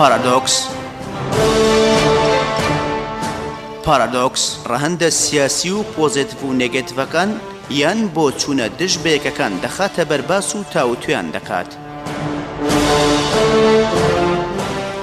پارادۆکس پارادۆکس ڕەهندە سیاسی و پۆزێتڤ و نێگەتڤەکان یان بۆ چوونە دژ بەیەکەکان دەخاتە بەرباس و تاوتویان دەکات.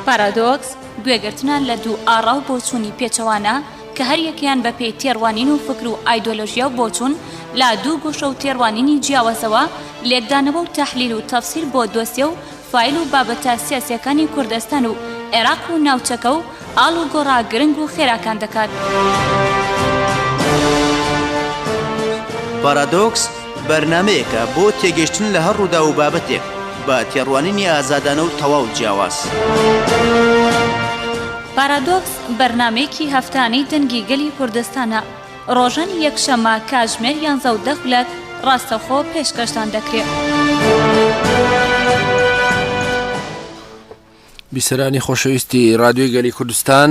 پارادۆکس گوێگرتنە لە دوو ئاڕا و بۆچوونی پێچەوانە کە هەر یەکەیان بە پێی تێڕوانین و فکر و ئایدۆلۆژیا و بۆچوون لە دوو گۆشە و تێڕوانینی جیاوازەوە لێکدانەوە و تەحلیل و تەفسیر بۆ دۆسیە و فایل و بابەتە سیاسییەکانی کوردستان و عێراق و ناوچەکە و ئاڵ و گۆڕا گرنگ و خێراکان دەکات. پارادۆکس بەرنامەیەکە بۆ تێگەیشتن لە هەر ڕووداو و بابەتێک بە تێڕوانینی ئازادانە و تەواو جیاواز. پارادۆکس بەرنامەیەکی هەفتانەی دەنگی گەلی کوردستانە، ڕۆژانی یەکشەممە کاتژمێر یانزە و دە خولەک ڕاستەوخۆ پێشکەشتان دەکرێت. بیسەرانی خۆشەویستی ڕادیۆی گەلی کوردستان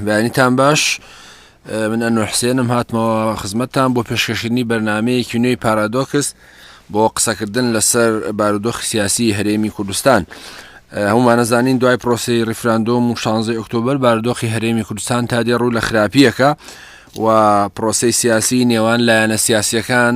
بەیانیتان باش. من ئەنوەر حسێنم هاتمەوە خزمەتتان بۆ پێشکەشکردنی بەرنمەیەکی نوێی پارادۆکس بۆ قسەکردن لەسەر بارودۆخی سیاسی هەرێمی کوردستان هەمومانەزانین دوای پرۆسی ریفراندۆم و شانزەی ئۆکتۆبر بارودۆخی هەرێمی کوردستان تا دێ ڕوو لە خراپیەکە و پرۆسی سیاسی نێوان لایەنە سیاسیەکان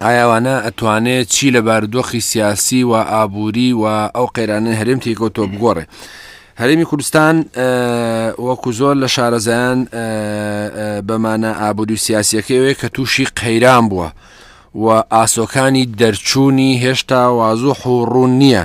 ئایا وانە ئەتوانێ چی لە بارودۆخی سیاسی و ئابووری و ئەو قەیرانەی هەرێم تێکەوتۆ بگۆڕێ هەرێمی کوردستان وەکو زۆر لە شارەزایان بەمانە ئابووری و سیاسیەکەوێ کە تووشی قەیران بووە و ئاسۆکانی دەرچوونی هێشتا وازوح و ڕوون نییە.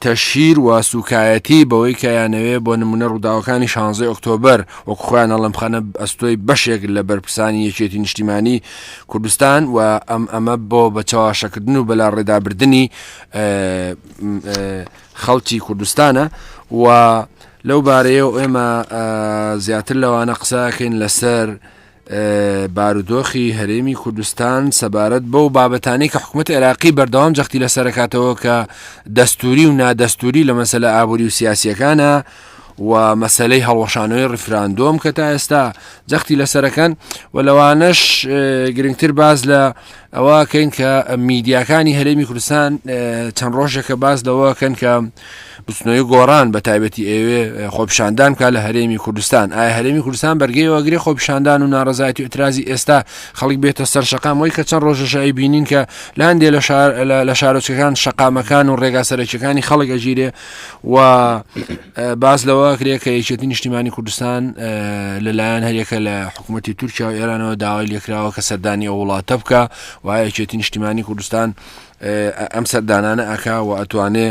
تەشهیر و سوکایەتی بەوەی کە یانەوێ بۆ نموونە ڕووداوەکانی شانزەی ئۆکتۆبەر وەک خۆیان ئەڵێن بخەنە ئەستۆی بەشێک لە بەرپرسانی یەکێتی نیشتیمانی کوردستان و ئەم ئەمە بۆ بە چەواشەکردن و بەلاڕێدابردنی خەڵکی کوردستانە و لەو بارەیەوە ئێمە زیاتر لەوانە قسەکەین لەسەر بارودۆخی هەرێمی کوردستان سەبارەت بەو بابەتانەی کە حکوومەت عێراقی بەردەوام جەختی لە سەرکاتەوە کە دەستوری و نادەستوری لە مەسەلە ئابووری و سیاسیەکانە و مەسلەی هەڵوەشانەوەی ڕفراندۆم کە تا ئێستا جەختی لەسەرەکەن و لەوانەش گرنگتر باز لە ئەوە کەین کە میدیاکانی هەرێمی کوردستان چەند ڕۆژێکە باس لەوە کەن کە بچنەوەی گۆڕان بە تایبەتی ئێوێ خۆپشاندان کا لە هەرێمی کوردستان ئایا هەرێمی کوردستان بەرگەی وەگرێ خۆپشاندان و ناڕزایەتی و ئەترازی ئێستا خەڵک بێتە سەر شقامەوەی کە چەند ڕۆژەشایی بینین کە لاندێ لە شار لە شارۆچەکان شقامەکان و ڕێگا سەرەکیەکانی خەڵک ئەگیرێ و باس لەوە کرێ کە یەکێتی نیشتیمانی کوردستان لەلایەن هەریەکە لە حکوومەتتی تورکیا و ئێرانەوە داوای لێکراوە کە سەردانی ئەو وڵاتە بکە و یەکێتی نیشتیمانی کوردستان ئەم سەردانانە ئەکا و ئەتوانێ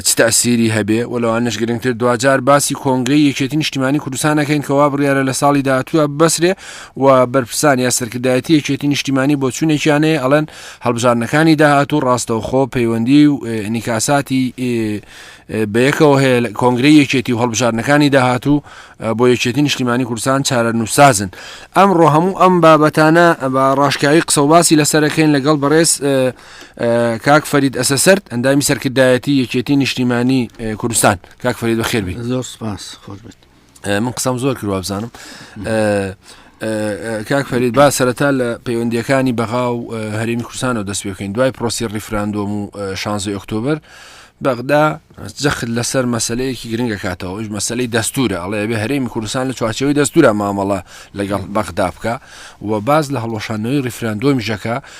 چ تاسیری هەبێ و لەوانش گرنگتر دوجار باسی کۆنگری یەکێتی نیشتیمانی کوردستانەکەین کەوا بڕیاە لە ساڵی داهاتووە بەسرێ و بەرپرسان یا سەرکردایەتی یەکێتی نیشتیمانی بۆ چوونێکیانەیە ئەڵەن هەڵبژارنەکانی داهاتوو ڕاستەوخۆ پەیوەندی و نیکاساتی بەیەکەوە هەیە لە کۆنگرەی یەکێتی و هەڵبژاردنەکانی داهاتوو بۆ یەکێتی نیشتیمانی کوردستان چارە نووسازن ئەمڕۆ هەموو ئەم بابەتانە بە ڕاشکاوی قسەڵباسی لەسەرەکەین لەگەڵ بەڕێز کاک فەرید ئەسەسەرد ئەندامی سەرکردایەتی یەکێتی نیشتیمانی کوردستان کاک فەرید بەخێربی زۆر سپاس خۆش بێت من قسەم زۆر کرد وابزانم کاک فەرید با سەرەتا لە پەیوەندیەکانی بەغا و هەرمی کوردستانەوە دەست بکەین دوای پرۆسی ریفراندۆم و شانزی ئۆکتۆبر بەغدا جەخت لەسەر مەسلەیەکی گرنگە کاتەوە ئەوش مەسلەی دەستورە ئەڵێ بێ هەرێمی کوردستان لە چوارچەوەی دەستورە مامەڵە لەگەڵ بەغدا بکە و باز لە هەڵۆشانەوەی ریفراندۆمی ژەکە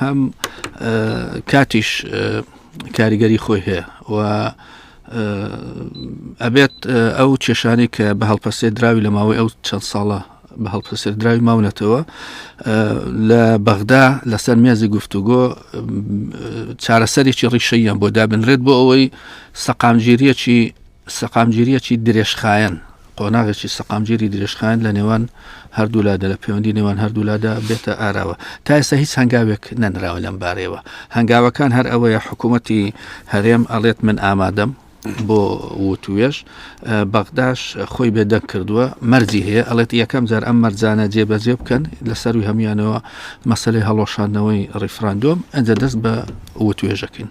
هەم کاتیش کاریگەری خۆی هەیە و ئەبێت ئەو کێشانی کە بە هەڵپەسێ دراوی لە ماوەی ئەو چەند ساڵە بە هەڵپەسێر دراوی ماونەتەوە لە بەغدا لەسەر مێزی گفتوگۆ چارەسەرێکی ڕیشەیان بۆ دابنرێت بۆ ئەوەی سەقامگیریەکی سەقامگیرییەکی درێژخایەن، قۆناغێکی سەقامگیری درێژخایەن لە نێوان هەردوولادا لە پەیوەندی نێوان هەردوولادا بێتە ئاراوە تا ئێستا هیچ هەنگاوێک نەنراوە لەم بارەیەوە هەنگاوەکان هەر ئەوەیە حکوومەتی هەرێم ئەڵێت من ئامادەم بۆ وتوێش بەغداش خۆی بێدەنگ کردووە مەرجی هەیە ئەڵێت یەکەم جار ئەم مەرجانە جێبەجێ بکەن لە سەروی هەموانەوە مەسلەی هەڵۆشاندنەوەی ڕیفراندۆم ئەجە دەست بە وتوێژەکەین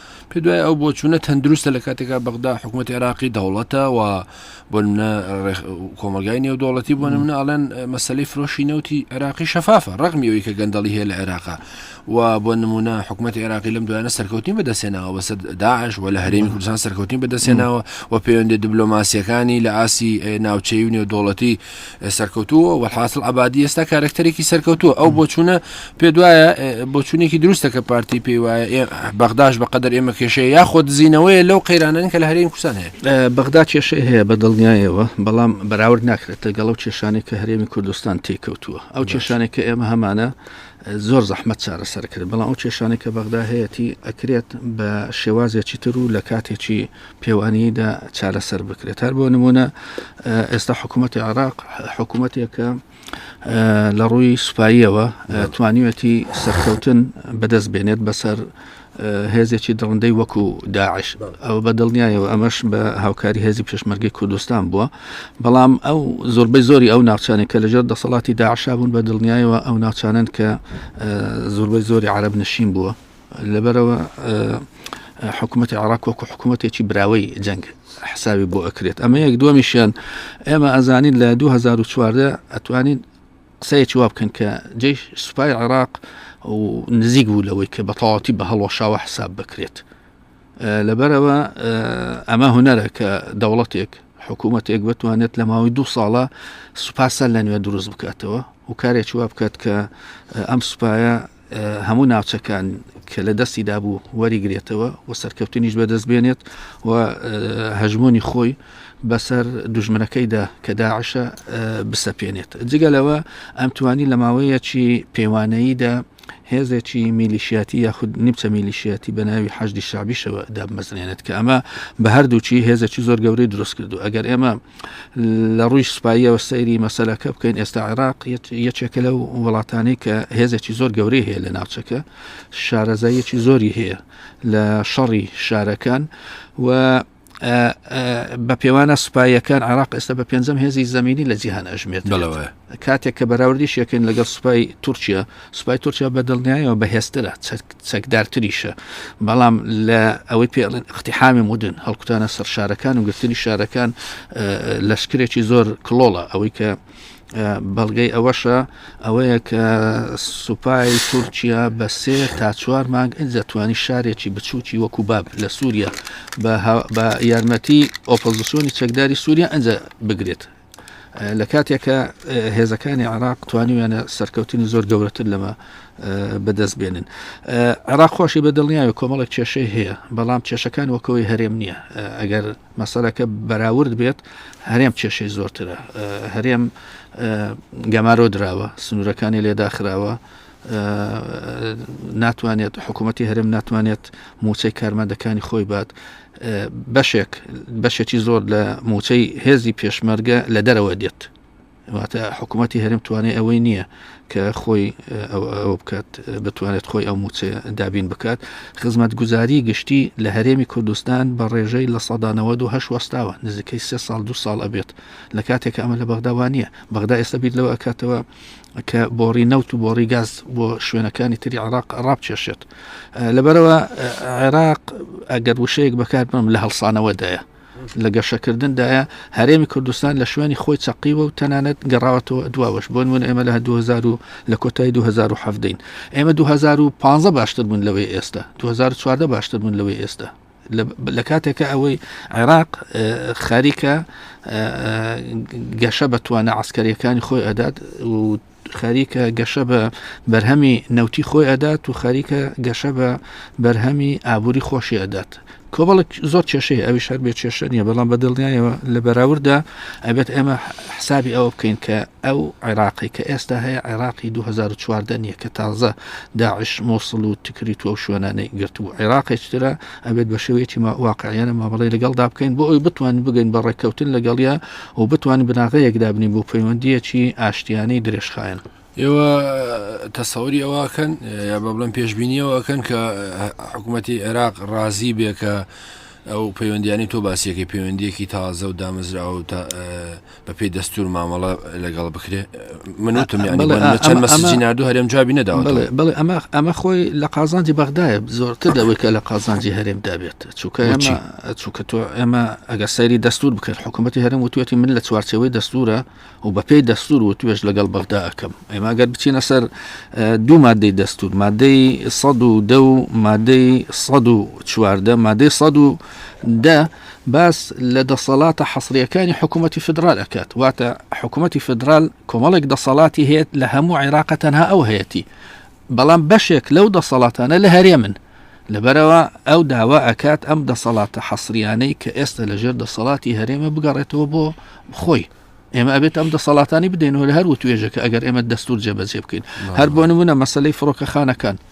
پێ دوای ئەو بۆچوونە تەندروستە لە کاتێکا بەغدا حکوومەت عێراقی دەوڵەتە و بۆ منە کۆمەلگای نێودوڵەتی بۆ منە ئەڵێن مەسلەی فرۆشی نەوتی عێراقی شەفافە ڕقمی ئەوی کە گەندەڵی هەیە لە عێراقا و بۆ نمونە حکوومەت عێراقی لەم دوایانە سەرکەوتنی بەدەستێناوە بەسەر داعش و لە هەرێمی کوردستان سەرکەوتنی بەدەستێناوە و پەیوەندی دبلۆماسیەکانی لە ئاسی ناوچەی و نێودوڵەتی سەرکەوتووە وەحاصل عبادی ئێستا کارکتەرێکی سەرکەوتووە ئەو بۆچوونە پێ دوایە بۆچوونێکی دروستە کە پارتی پێی وایە بەغداش بەقدر ئێمە کێشەیە یاخۆ دزینەوەی لەو قەیرانن کە لە هەرێم کوردستان هەیە بەغدا کێشەی هەیە بە دڵنیایەوە بەڵام بەراورد ناکرێتە گەڵ و کێشانێک کە هەرێمی کوردستان تێکەوتووە ئەو کێشانێک کە ئێمە هەمانە زۆر زەحمەت چارەسەر کرد، بەڵام ئەو کێشانەی کە بەغدا هەیەتی ئەکرێت بە شێوازێکی تر و لە کاتێکی پێوانیدا چارەسەر بکرێت هەر بۆ نمونە ئێستا حکوومەتی عراق حکوومەتێکە لە ڕووی سوپاییەوە توانیوەتی سەرکەوتن بەدەست بێنێت بەسەر هێزێکی دڕندەی وەکو داعش ئەو بە دڵنیایەوە ئەمەش بە هاوکاری هێزی پێشمەرگی کوردستان بووە بەڵام ئەو زۆربەی زۆری ئەو ناوچانێک کە لەژێر دەسەڵاتی داعشا بوون بە دڵنیایەوە ئەو ناوچانن کە زۆربەی زۆری عرب نشین بووە لەبەرەوە حکوومەتی عراق وەکو حکوومەتێکی براوەی جەنگ حساوی بۆ ئەکرێت ئەمە یەک دووەمیشیان ئێمە ئەزانین لە 2014 ئەتوانین قسەیەکی وا بکەن کە جێ سوپای عێراق و نزیک بوو لەوەی کە بەتەواتی بە هەڵۆشاوە حساب بکرێت لەبەرەوە ئەمە هوەرە کە دەوڵەتێک حکوومەتێک بتوانێت لە ماوەی دوو ساڵە سوپاسە لە نوێ دروست بکاتەوە و کارێکی وا بکات کە ئەم سوپایە هەموو ناوچەکان کە لە دەستی دابوو وەریگرێتەوە و سەرکەوتنیش بەدەست بێنێت و هەژمۆنی خۆی بەسەر دژمنەکەیدا کە داعشە بسەپێنێت جگە لەوە ئەم توانی لە ماوەیەکی پێوانەییدا هێزێکی میلیشیاتی یاخود نیمچە میلیشیاتی بە ناوی حەجدی شعبیشەوە دابمەزرێنێت کە ئەمە بە هەردووچی هێزێکی زۆر گەورەی دروست کردو ئەگەر ئێمە لە ڕووی سوپاییەوە سەیری مەسەلەکە بکەین ئێستا عێراق یەکێکە لەو وڵاتانی کە هێزێکی زۆر گەورەی هەیە لە ناوچەکە شارەزایەکی زۆری هەیە لە شەڕی شارەکان و بە پێوانە سوپایەکان عراق ئێستا بە پێنجەم هێزی زمینی لە جیهان ئەژمێت بەڵەوە کاتێک کە بەراوردیش یەکەین لەگەڵ سوپای تورکیا سوپای تورکیا بە دڵنیایەوە بەهێزترە چەکدارتریشە بەڵام لە ئەوەی پێ اختحامی مدن هەڵکوتانە سەر شارەکان و گرتنی شارەکان لەشکرێکی زۆر کلۆڵە ئەوەی کە بەڵگەی ئەوەشە ئەوەیە کە سوپای تورکیا بە سێ تا چوار مانگ ئەجەتوانی شارێکی بچووکی وەکو باب لە سووریا بە یارمەتی ئۆپۆزیسیۆنی چەکداری سووریا ئەجە بگرێت لە کاتێکە هێزەکانی عراق توانیویانە سەرکەوتنی زۆر گەورەتر لەمە بەدەست بێنن عراق خۆشی بە دڵنیاوە کۆمەڵک کێشەی هەیە بەڵام کێشەکان وەکەوەی هەرێم نییە ئەگەر مەسەرەکە بەراورد بێت هەرێم کێشەی زۆرترە هەرێم گەمارۆ دراوە سنوورەکانی لێداخراوە ناتوانێت حکوومەتتی هەرێم ناتوانێت موچەی کارمەندەکانی خۆی بات بەشێک بەشێکی زۆر لە موچەی هێزی پێشمەرگە لە دەرەوە دێت واتە حکوومەتتی هەرم توانێت ئەوەی نییە کە خۆی ئەوە بکات بتوانێت خۆی ئەو موچێ دابین بکات خزمەت گوزاری گشتی لە هەرێمی کوردستان بە ڕێژەی لە سەدانەوە دو هەش وەستاوە نزیکەی سێ ساڵ دو ساڵ ئەبێت لە کاتێک ئەمە لە بەغداوان نییە بەغدا ئێستا بیت لەوە ئەکاتەوە کە بۆڕی نەوت و بۆڕی گاز بۆ شوێنەکانی تری عراق ڕابچێشێت لەبەرەوە عێراق ئەگەر وشەیەک بەکار بم لە هەڵسانەوەدایە لە گەشەکردندایە هەرێمی کوردستان لە شوێنی خۆی چەقیوە و تەنانەت گەڕاوەتەوە دواوەش بۆن من ئێمە لە 2000 لە کۆتای 2017 ئێمە 2015 باشتر بوون لەوەی ئێستا 2014 باشتر بوون لەوەی ئێستا لە کاتێکە ئەوەی عێراق خەریکە گەشە بە توانە عسکەریەکانی خۆی ئەدات و خەریکە گەشە بە بەرهەمی نەوتی خۆی ئەدات و خەریکە گەشە بە بەرهەمی ئابووری خۆشی ئەدات کۆبڵک زۆر کێشەی ئەوی شار بێ کێشە نیە بەڵام بە دڵنیایەوە لە بەراورددا ئەبێت ئێمە حسابی ئەوە بکەین کە ئەو عێراقەی کە ئێستا هەیە عێراقی دوو هەزار و چواردە نییە کە تازە داعش مۆسڵ و تکریت و ئەو شوێنانەی گرتبوو عێراقێکی ترە ئەبێت بە شێوەیەکی ما- واقعیانە مامەڵەی لەگەڵدا بکەین بۆ ئەوی بتوانین بگەین بە ڕێککەوتن لەگەڵیا و بتوانین بناغەیەک دابنین بۆ پەیوەندییەکی ئاشتیانەی درێژخایەن ئێوە تەسەوری ئەوەکەن یا بە بڵێن پێشببینیەوەکەن کە حکوومەتی عێراق ڕازی بێ کە ئەو پەیوەندیانی تۆ باسیەکەی پەیوەندیەکی تازە و دامەزراوە و تا بەپێی دەستور مامەڵە لەگەڵ بکرێ من وتم چەند مەسجی نردو هەرێم جوابی نەداوە بڵێ ئەمە ئەمە خۆی لە قازانجی بەغدایە زۆرتر دەوەی کە لە قازانجی هەرێم دابێت چووکە چووکە تۆ ئێمە ئەگەر سەیری دەستور بکرد حکوومەتتی هەرم وتوێتی من لە چوارچەوەی دەستورە و بەپێی دەستور و توێش لەگەڵ بەغدا ئەەکەم ئێمە گەر بچینە سەر دوو مادەی دەستور مادەی سە و دە و مادەی سە و چواردە مادەی سە و دە باس لە دەسەڵاتە حەسرییەکانی حکوومەتی فیدڕال ئەکات، واتە حکوومەتی فیدڕال کۆمەڵێک دەسەڵاتی هەیەت لە هەموو عێراقە تەنها ئەو هەیەتی، بەڵام بەشێک لەو دەسەڵاتانە لە هەرێمن. لەبەرەوە ئەو داوا ئەکات ئەم دەسەڵاتە حەسریانەی کە ئێستا لە ژێر دەسەڵاتی هەرێمە بگەڕێتەوە بۆ خۆی. ئێمە ئەبێت ئەم دەسەڵاتانی بدەینەوە لە هەر وتوێژەکە ئەگەر ئێمە دەستور جێبەجێ بکەین هەر بۆ نمونە مەسلەی فڕۆکەخانەکان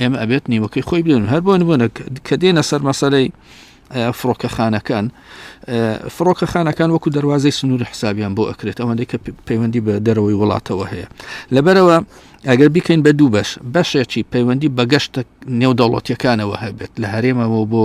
ئێمە ئەبێت نیوەکەی خۆی بێن هەر بۆن بوونە کە دێنە سەر مەسەلەی فڕۆکەخانەکان فڕۆکەخانەکان وەکو دەواازەی سنووری حسابیان بۆ ئەکرێت ئەوەندەی کە پەیوەندی بە دەرەوەی وڵاتەوە هەیە لەبەرەوە ئەگەر بیکەین بە دوو بەش بەشێکی پەیوەندی بەگەشتە نێودەوڵەتیەکانەوە هەبێت لە هەرێمەوە بۆ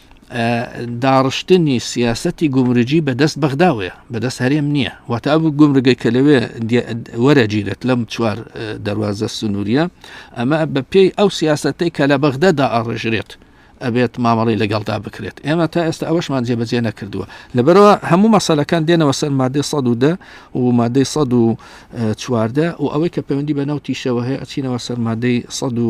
داڕشتنی سیاستی گومرجی بەدەست بەغداوەیە بەدەست هەرێم نییە واتە ئەو گومرگەی کە لەوێ وەرەگیرێت لەم چوار دەواازە سنووریە ئەمە بە پێی ئەو سیاستەی کە لە بەغدەدا ئاڕژرێت ئەبێت مامەڵی لەگەڵدا بکرێت ئێمە تا ئێستا ئەوەشمان جێبەجێ نەکردووە لەبەرەوە هەموو مەسەلەکان دێنەوە سەر مادەی سە و دە و مادەی سە و چواردە و ئەوەی کە پەیوەندی بە ناو تیشەوە هەیە ئەچینەوە سەر مادەی سە و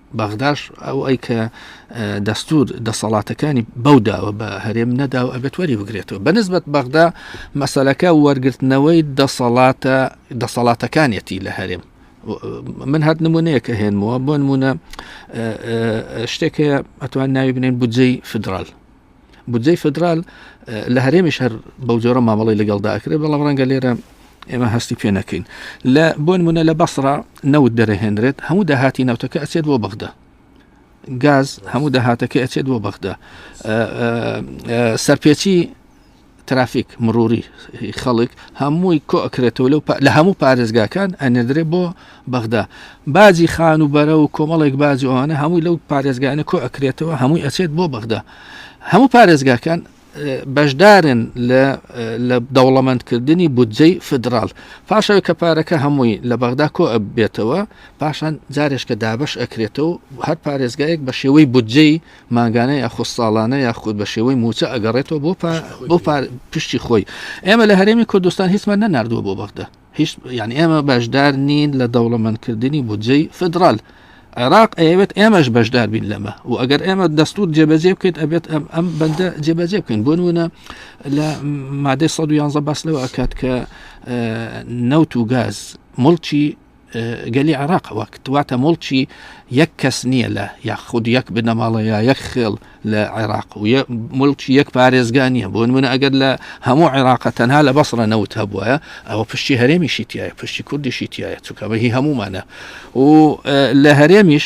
بەغداش ئەو ئەی کە دەستور دەسەڵاتەکانی بەوداوە بە هەرێم نەدا و ئەبێت وەری بگرێتەوە بەنسبەت بەغدا مەسلەکە وەرگرتنەوەی دەسەڵاتە دەسەڵاتەکانیەتی لە هەرێم من هەت نمونەیە کە هێنمەوە بۆ نمونە شتێک هەیە ئەتوان ناوی بنێن بودجەی فدرال بودجەی فدرال لە هەرێمیش هەر بەو جۆرە مامەڵی لەگەڵدا ئەکرێت بەڵام ڕەنگە لێرە ئێمە هەستی پێ نەکەین لە بۆن منە لە بەسرا نەوت دەرەهێنرێت هەموو داهاتی نەوتەکە ئەچێت بۆ بەغدا گاز هەموو داهاتەکە ئەچێت بۆ بەغدا سەرپێچی ترافیک، مڕوری خەڵک هەمووی کۆ ئەکرێتەوە لەو لە هەموو پارێزگاکان ئەنێدرێ بۆ بەغدا باجی خان و بەرە و کۆمەڵێک باجی ئەوانە هەمووی لەو پارێزگانە کۆ ئەکرێتەوە هەمووی ئەچێت بۆ بەغدا هەموو پارێزگاکان بەشدارن لە دەوڵەمەندکردنی بودجەی فدرال پاشەوە کە پارەکە هەمووی لە بەغدا کۆ بێتەوە پاشان جارێشکە دابش ئەکرێتەوە هەر پارێزگایەک بە شێوەی بودجەی مانگانە یاخود ساڵانە یاخود بە شێوەی مووچە ئەگەڕێتەوە بۆ بۆ پشتی خۆی ئێمە لە هەرێمی کوردستان هیچمان نەناردووە بۆ بەغدا هیچ یعنی ئێمە بەشدار نین لە دەوڵەمەندکردنی بودجەی فدرال عێراق ئەوێت ئێمەش بەشدار بین لەمە و ئەگەر ئێمە دەستور جێبەجێ بکەیت ئەبێت ئەم ئەم بەندە جێبەجێ بکەین بۆ نوونە لە مادەی 111 باس لەوە ئەکات کە نەوت و گاز مڵکی گەلی عێراق وەک دواتە مڵکی یەک کەس نییە لە یاخود یەک بنەماڵە یا یەک خێڵ لە عێراق و ملکی یەک پارێزگا نییە بۆن منە ئەگەر لە هەموو عێراقە تەنها لە بەسڕە نەوت هەبووە ئەوە پشتی هەرێمیشی تایە پشتی کوردیشی تایە چکەوەهی هەمومانە و لە هەرێمیش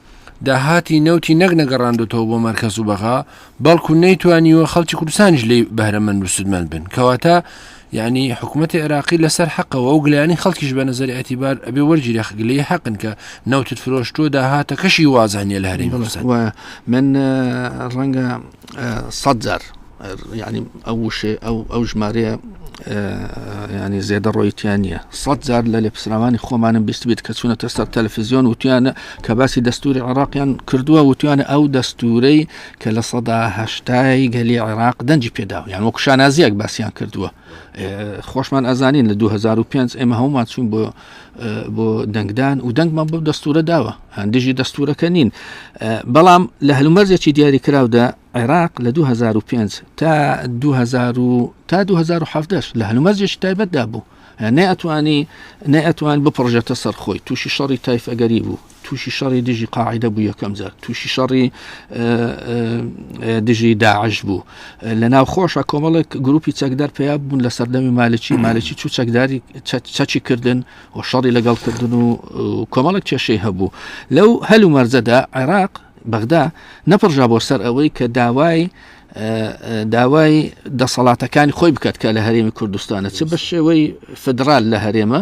داهاتی نەوتی نەک نەگەڕاندۆتەوە بۆ مەرکەز و بەغا، بەڵکو نەیتوانیوە خەڵکی کوردستانیش لێی بەهرەمەند و سوودمەند بن. کەواتە یەعنی حکومەتی عێراقی لەسەر حەقە و ئەو گلەیانەی خەڵکیش بە نەزەری ئەتیبار ئەبێ وەرگیرێ گلەی حەقن کە نەوتت فرۆشتووە داهاتەکەشی وازح نییە لە هەرێمی کوردستان. وایە. من ڕەنگە سەد جار یعنی ئەو وشێ ئەو ئەو ژمارەیە ینی زێدە ڕۆیتیان نییە سەد جار لە لێپسراوانی خۆمانم بیست بیت کە چوونەتە سەر تەلفزیۆن وتیانە کە باسی دەستوری عراقیان کردووە وتیانە ئەو دەستورەی کە لە سەداهشتای گەلی عێراق دەنجی پێدا یان وەکو شانازیەک باسییان کردووە خۆشمان ئەزانین لە 2005 ئێمە هەمومان چوون بۆ بۆ دەنگدان و دەنگمان بۆ دەستورە داوە هەندژی دەستورەکە نین بەڵام لە هەلومەرزێکی دیاری کراودا عێراق لە 2005 تا 2000 تا 2010 لە هەلومەرزێکی تایبەتدا بوو نەیتوانی نەیتوان بپڕژێتە سەرخۆی تووشی شەڕی تایفەگەری بوو تووشی شەڕی دژی قاعدە بوو یەکەم جار تووشی شەڕی دژی داعش بوو لە ناو خۆشە کۆمەڵێک گروپی چەکدار پیا بوون لە سەردەمی مالکی مالکی چوو چەکداری چەچی کردن و شەڕی لەگەڵ کردن و کۆمەڵێک کێشەی هەبوو لەو هەل و مەرجەدا عێراق بەغدا نەپڕژا بۆ سەر ئەوەی کە داوای داوای دەسەڵاتەکانی خۆی بکات کە لە هەرێمی کوردستانە چ بە شێوەی فدرال لە هەرێمە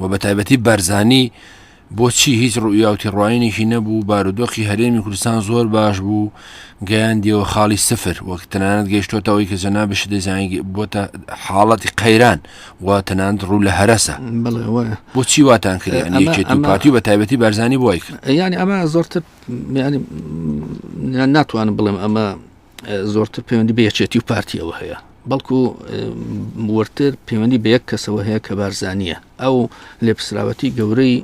و بە تایبەتی بەرزانی بۆچی هیچ ڕوئیاوتیڕواینێکی نەبوو بارودۆخی هەرێمی کوردستان زۆر باش بوو گەیان دیەوە خاڵی سفر وەک تەنانەت گەیشتۆتەوەی کە جەنا بشی دەزانانی بۆتە حاڵەتی قەیران و تەنانند ڕوو لە هەرسە بۆچی واتان کرد پارتی بە تایبەتی بارزانانی بۆی کرد ینی ئەمە زۆرتر ناتوانم بڵێم ئەمە زۆرتر پەیوەندی بە یەکێتی و پارتیەوە هەیە بەڵکو وەرتر پەیوەندی بە یەک کەسەوە هەیە کە بارزانە ئەو لێپسراوەتی گەورەی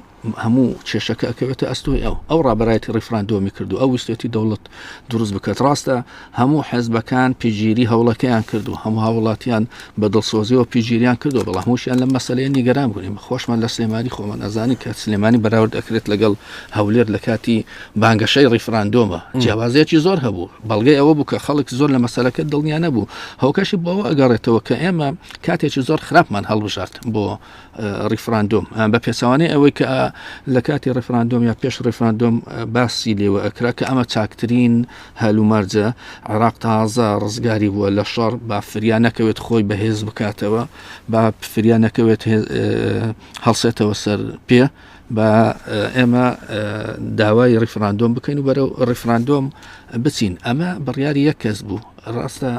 هەموو کێشەکە ئەکەوێتە ئەستۆی ئەو ئەو ڕابەتی ڕیفراندۆمی کردو ئەو ویستێتی دەوڵەت دروست بکات ڕاستە هەموو حەزبەکان پیگیری هەوڵەکەیان کردو هەموو هاوڵاتیان بە دڵسۆزیەوە پیگیریان کردو بەڵام هەمووشیان لە مەسلەیە نیگەران بوونیم خۆشمان لە سلێمانی خۆمان ئەزانی کە سلێمانی بەراورد ئەکرێت لەگەڵ هەولێر لە کاتی بانگەشەی ڕیفراندۆمە جیاوازەیەکی زۆر هەبوو بەڵگەی ئەوە بوو کە خەڵک زۆر لە مەسەلەکە دڵنیا نەبوو هۆکەشی بۆەوە ئەگەڕێتەوە کە ئێمە کاتێکی زۆر خراپمان هەڵبژات بۆ ڕیفراندۆم بە پێچوانەی ئەوەی کە لە کاتی ڕفراندۆم یا پێش ڕفراندۆم باسی لێوە ئەکرا کە ئەمە چاکترین هەلومەرجە عراق تازە ڕزگاری بووە لە شەڕ با فریا نەکەوێت خۆی بەهێز بکاتەوە با فریا نەکەوێت هەڵسێتەوە سەر پێ با ئێمە داوای ڕیفراندۆم بکەین و بەرەو ڕیفراندۆم بچین ئەمە بڕیاری یەک کەس بوو ڕاستە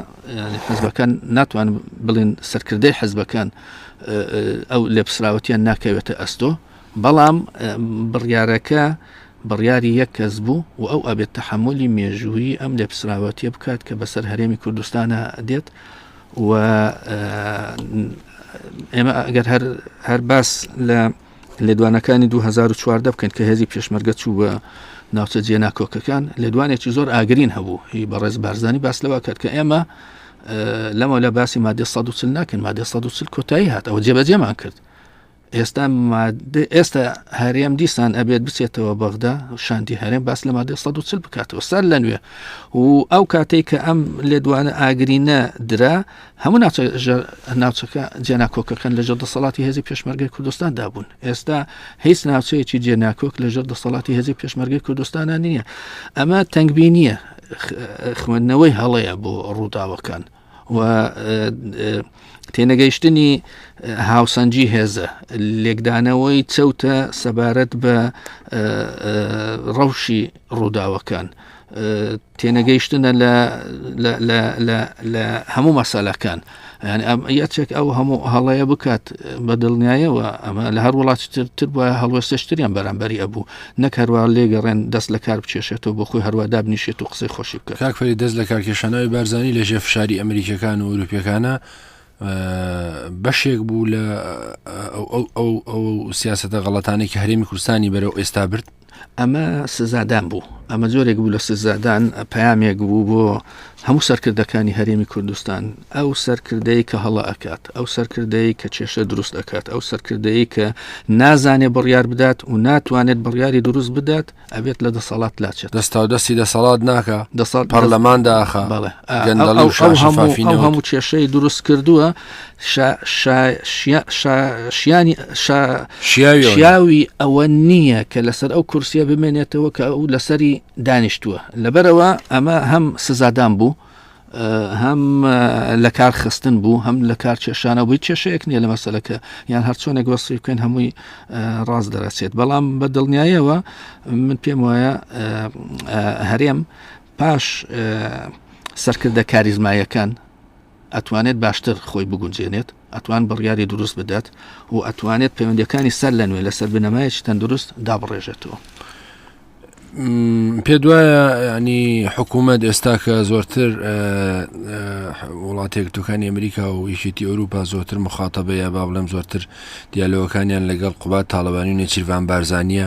حزبەکان ناتوان بڵێن سەرکردەی حزبەکان ئەو لێپسراوەتیان ناکەوێتە ئەستۆ بەڵام بڕیارەکە بڕیاری یەک کەس بوو و ئەو ئەبێت تەحملی مێژووی ئەم لێپسراوەتیە بکات کە بەسەر هەرێمی کوردستانە دێت و ئێمە ئەگەر هەر هەر باس لە لێدوانەکانی دوو هەزار و چواردە بکەن کە هێزی پێشمەرگە چوو بە ناوچە جێ ناکۆکەکان لێدوانێکی زۆر ئاگرین هەبوو هی بەڕێز بارزانانی باس لەوە کرد کە ئێمە لەمە لە باسی مادە 140 ناکەن مادە 140 کۆتایی هات ئەوە جێبەجێمان کرد ئێستا ئێستا هەرێم دیسان ئەبێت بچێتەوە بەغدا شاندی هەرێم باس لە مادە 140 بکاتەوە سەر لە نوێ و ئەو کاتێک کە ئەم لێدوانە ئاگرینە درا هەموو ناوچە ژێر ناوچەکە جێناکۆکەکان لەژێر دەسەڵاتی هێزی پێشمەرگەی کوردستاندا بوون ئێستا هیچ ناوچەیەکی جێناکۆک لەژێر دەسەڵاتی هێزی پێشمەرگەی کوردستانە نییە ئەمە تەنگبینیە خوێندنەوەی هەڵەیە بۆ ڕووداوەکان و تێنەگەیشتنی هاوسەنجی هێزە لێکدانەوەی چەوتە سەبارەت بە ڕەوشی ڕووداوەکان تێنەگەیشتنە لە هەموو مەسەلەکان یەچێک ئەو هەموو هەڵەیە بکات بە دڵنیایەوە ئەمە لە هەر وڵاتتر بە هەڵوێستشتریان بەرامبەری ئەبوو نەک هەروە لێگەڕێن دەست لە کار بچێشێتەوە بۆ خۆی هەروە دابنیشێت و قسەی خۆشی بکە کاکفری دەست لە کارکێشانەوەی بارزانانی لە ژێ فشاری ئەمریکەکان و ئەوروپیەکانە بەشێک بوو لە ئەو سیاستە غەڵەتانێکی هەرێمی کوردستانی بەرەو ئێستا برد ئەمە سزادان بوو ئەمە جۆرێک بوو لە سزادان پامێک بوو بۆ هەموو سەرکردەکانی هەرێمی کوردستان ئەو سەرکردەی کە هەڵە ئەکات ئەو سەرکردەی کە کێشە دروست ئەکات ئەو سەرکردەی کە نازانێ بڕیار بدات و ناتوانێت بڕیاری دروست بدات ئەبێت لە دەسەڵات لاچێت دەستا و دەستی دەسەڵات ناکە دەسەڵ پەرلەمان داخە هەموو کێشەی دروست کردووە شیاوی ئەوە نییە کە لەسەر ئەو کورسیە بمێنێتەوە کە ئەو لەسەری دانیشتووە لەبەرەوە ئەمە هەم سزادان بوو هەم لە کار خستن بوو هەم لە کار کێشانە بووی کێشەیەک نییە لە مەسلەکە یان هەرچۆنێک وەسی بکەین هەمووی ڕاست دەرەچێت بەڵام بە دڵنیایەوە من پێم وایە هەرێم پاش سەرکردە کاریزمایەکان ئەتوانێت باشتر خۆی بگونجێنێت، ئەتوان بڕیاری دروست بدات و ئەتوانێت پەیوەندیەکانی سەر لە نوێ لەسەر بنەمایەکی تەندروست دابڕێژێتەوە. پێ دوایە ینی حکوومەت ئێستا کە زۆرتر وڵاتێک توکانی ئەمریکا و یشێتی ئەوروپا زۆرتر مخاتەبەیە با بڵێم زۆرتر دیالۆکانیان لەگەڵ قوبات تاالبانی و نێچیرڤان بارزانە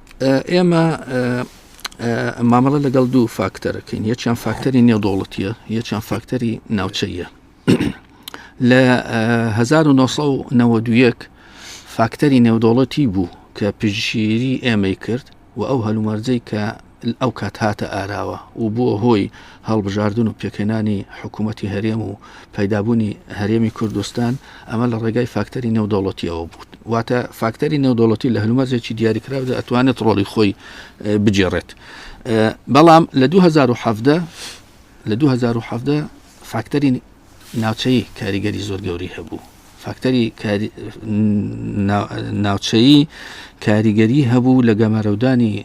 ئێمە مامەڵە لەگەڵ دوو فاکتەرەکەین یەکیان فاکتەری نێودوڵەتیە یەکیان فاکتەری ناوچەیە لە 1990 فاکتەری نێودوڵەتی بوو کە پژگیری ئێمەی کرد و ئەو هەلومەرجەی کە ئەو کات هاتە ئاراوە و بووە هۆی هەڵبژاردن و پێکهێنانی حکوومەتی هەرێم و پەیدابوونی هەرێمی کوردستان ئەمە لە ڕێگای فاکتەری نێودەوڵەتیەوە بوو واتە فاکتەری نێودەوڵەتی لە هەلومەرجێکی دیاریکراودا ئەتوانێت ڕۆڵی خۆی بگێڕێت بەڵام لە 2017 لە 2017 فاکتەری ناوچەی کاریگەری زۆر گەوری هەبوو فاکتەری ناوچەیی کاریگەری هەبوو لە گەمارەودانی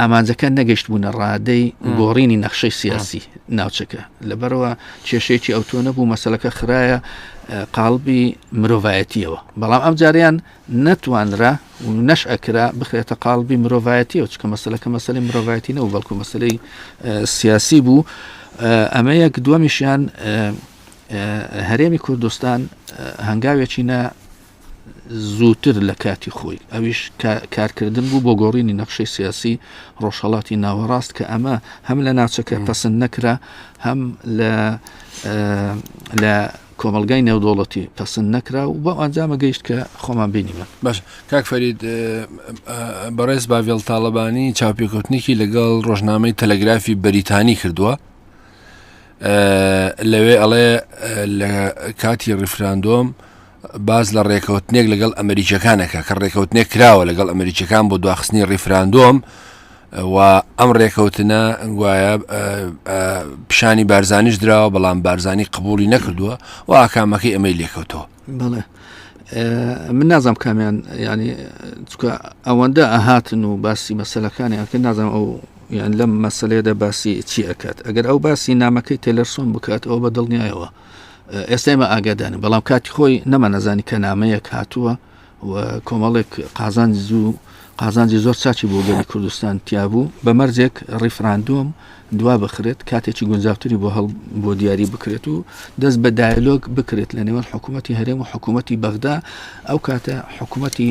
ئامانجەکە نەگەشتبوونە ڕادەی گۆڕینی نەخشەی سیاسی ناوچەکە لەبەرەوە کێشێکی ئەوتۆ نەبوو مەسلەکە خراە قالبی مرۆڤایەتیەوە بەڵام ئەم جاریان نەتوانرا و نەش ئەکرا بخرێتە قالبی مرۆڤایەتیەوە چکە مەسلەکە مەسلی مرۆڤایەتی نەوە بەڵکو مەسلەی سیاسی بوو ئەمە یەک دووەمیشیان هەرێمی کوردستان هەنگاوێکینە زووتر لە کاتی خۆی ئەویش کارکردن بوو بۆ گۆڕینی نەخشەی سیاسی ڕۆژهڵاتی ناوەڕاست کە ئەمە هەم لە ناچەکە پسند نەکرا هەم لە لە کۆمەلگای نێودوڵەتی پسند نەکرا و بۆ ئەنجامە گەیشت کە خۆمان بینیمە باش کاک فەرید بەڕێز باڤێڵ تاالبانی چاپێکوتنێکی لەگەڵ ڕۆژنامەی تەلەگرافی بەریتانی کردووە لەوێ ئەڵێ لە کاتی ڕیفراندۆم باس لە ڕێکەوتنێک لەگەڵ ئەمریکییەکان ئەکا کە ڕێکەوتنێک کراوە لەگەڵ ئەمریکییەکان بۆ دواخستنی ڕیفراندۆم و ئەم ڕێکەوتنە گوایە پیشانی بارزانیش دراوە بەڵام بارزانی قبولی نەکردووە و ئاکامەکەی ئەمەی لێکەوتەوە بڵێ من نازم کامیان ینی چکە ئەوەندە ئەهاتن و باسی مەسلەکانی ئەکە نازم ئەو یان لەم مەسلەیەدا باسی چی ئەکات ئەگەر ئەو باسی نامەکەی تێلەرسۆن بکات ئەو بە دڵنیایەوە ئێستا ئێمە ئاگادارین بەڵام کاتی خۆی نەما نەزانی کە نامەیەک هاتووە و کۆمەڵێک قازانج زوو قازانجی زۆر ساچی بۆ گەلی کوردستان تیابوو بە مەرجێک ڕیفراندۆم دوا بخرێت کاتێکی گونجاوتری بۆ هەڵ بۆ دیاری بکرێت و دەست بە دایلۆک بکرێت لە نێوان حکوومەتتی هەرێم و حکوومەتتی بەغدا ئەو کاتە حکوومەتتی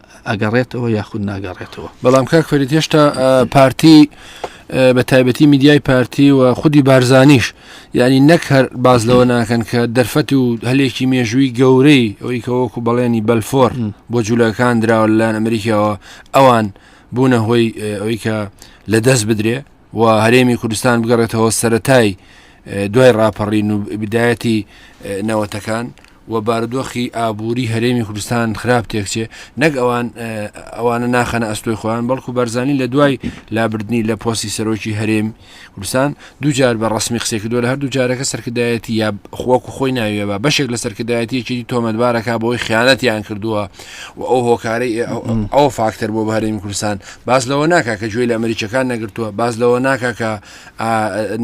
ئەگەڕێتەوە یاخود ناگەڕێتەوە بەڵام کاک فەرید هێشتا پارتی بە تایبەتی میدیای پارتی و خودی بارزانیش ینی نەک هەر باز لەوە ناکەن کە دەرفەتی و هەلێکی مێژووی گەورەی ئەوی کە وەکو بەڵێنی بەلفۆر بۆ جوولەکان دراوە لەلایەن ئەمریکاوە ئەوان بوونە هۆی ئەوی کە لە دەست بدرێ و هەرێمی کوردستان بگەڕێتەوە سەتای دوای ڕاپەڕین و بدایەتی نەوەتەکان و بارودۆخی ئابووری هەرێمی کوردستان خراپ تێکچێ نەک ئەوان ئەوانە ناخەنە ئەستۆی خۆیان بەڵکو بەرزانی لە دوای لابردنی لە پۆسی سەرۆکی هەرێم کوردستان دوجار بە ڕسمی قسێک کردو لە هەردوو جارەکە سەرکردایەتی یا خۆک و خۆی ناوێبە بەشێک لە سەرکردایەتیەکی تۆمەتبارەکە بۆی خیانەتیان کردووە و ئەو هۆکارەی ئەو فاکتەر بۆ بەرێمی کوردستان باز لەوە ناکە کە گوێی لە ئەمریکەکان نەگرتووە باز لەوە ناکە کە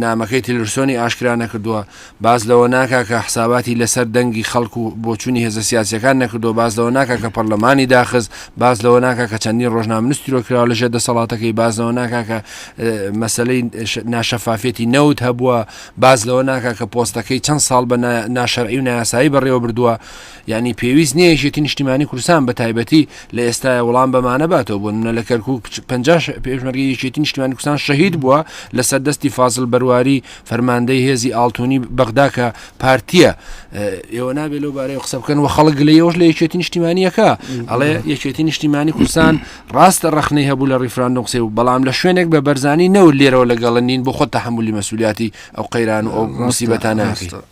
نامەکەی تلرسۆنی ئاشکرا نەکردووە باس لەوە ناکا کە حساباتی لەسەر دەنگی خەڵک و بۆچوونی هێزە سیاسییەکان نەکردووە، باس لەوە ناکا کە پەڕلەمانی داخست، باس لەوە ناکا کە چەندین ڕۆژنامەنووس تیرۆرکراوە لە ژێر دەسەڵاتەکەی، باس لەوە ناکا کە مەسەلەی ناشەفافیەتی نەوت هەبووە، باس لەوە ناکا کە پۆستەکەی چەند ساڵ بە ناشەرعی و نایاسایی بەڕێوەبردووە. یانی پێویست نییە یەکێتی نیشتیمانی کوردستان بە تایبەتی لە ئێستایا وڵام بەمانە باتەوە، بۆ نموونە لە کەرکووک پەنجا پێشمەرگەی یەکێتی نیشتیمانی کوردستان شەهید بووە لەسەر دەستی فازڵ بەرواری، فەرماندەی هێزی ئاڵتونی بەغدا کە پارتیە ئێوە نابێ لەو بارەی قسە بکەن و خەڵک لە یەوەش لە یەکێتی نیشتیمانیەکە ئەڵێ یەکێتی نیشتیمانی کوردستان ڕاستە ڕخنەی هەبوو لە ڕیفراندۆ قسێ و بەڵام لە شوێنێک بە بەرزانی نەوە لێرەوە لەگەڵە نین بۆ خۆ تەحملی مەسوولیاتی ئەو قەیران و ئەو مسیبەتانە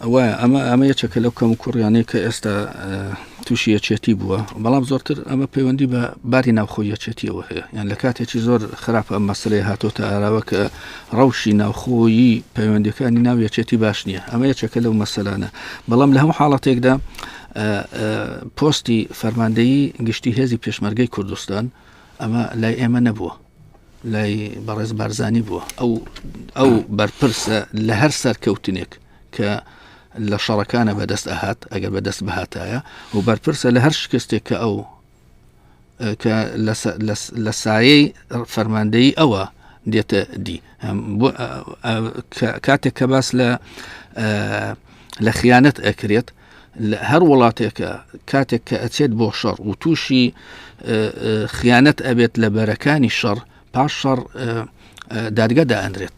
ئەوە ئەمە ئەمە یەکێکە لەو کەم کوڕیانەیە کە ئێستا تووشی یەکێتی بووە بەڵام زۆرتر ئەمە پەیوەندی بە باری ناوخۆ یەکێتیەوە هەیە یان لە کاتێکی زۆر خراپە ئەم مەسلەی هاتۆتە ئاراوە کە ڕەوشی ناوخۆیی پەیوەندیەکانی ناو یەکێتی باش نییە ئەمە یەکێکە لەو مەسەلانە بەڵام لە هەموو حاڵەتێکدا پۆستی فەرماندەیی گشتی هێزی پێشمەرگەی کوردستان ئەمە لای ئێمە نەبووە لای بەڕێز بارزانانی بووە ئەو ئەو بەرپرسە لە هەر سەرکەوتنێک کە لە شەڕەکانە بەدەست ئەهات ئەگەر بەدەست بهاتایە و بەرپرسە لە هەر شکستێک کە ئەو کە لە سایەی فەرماندەی ئەوە دێتە دی کاتێک کە باس لە لە خیانەت ئەکرێت هەر وڵاتێکە کاتێک کە ئەچێت بۆ شەڕ و تووشی خیانەت ئەبێت لە بەرەکانی شەڕ پاش شەڕ دادگەدا ئەندرێت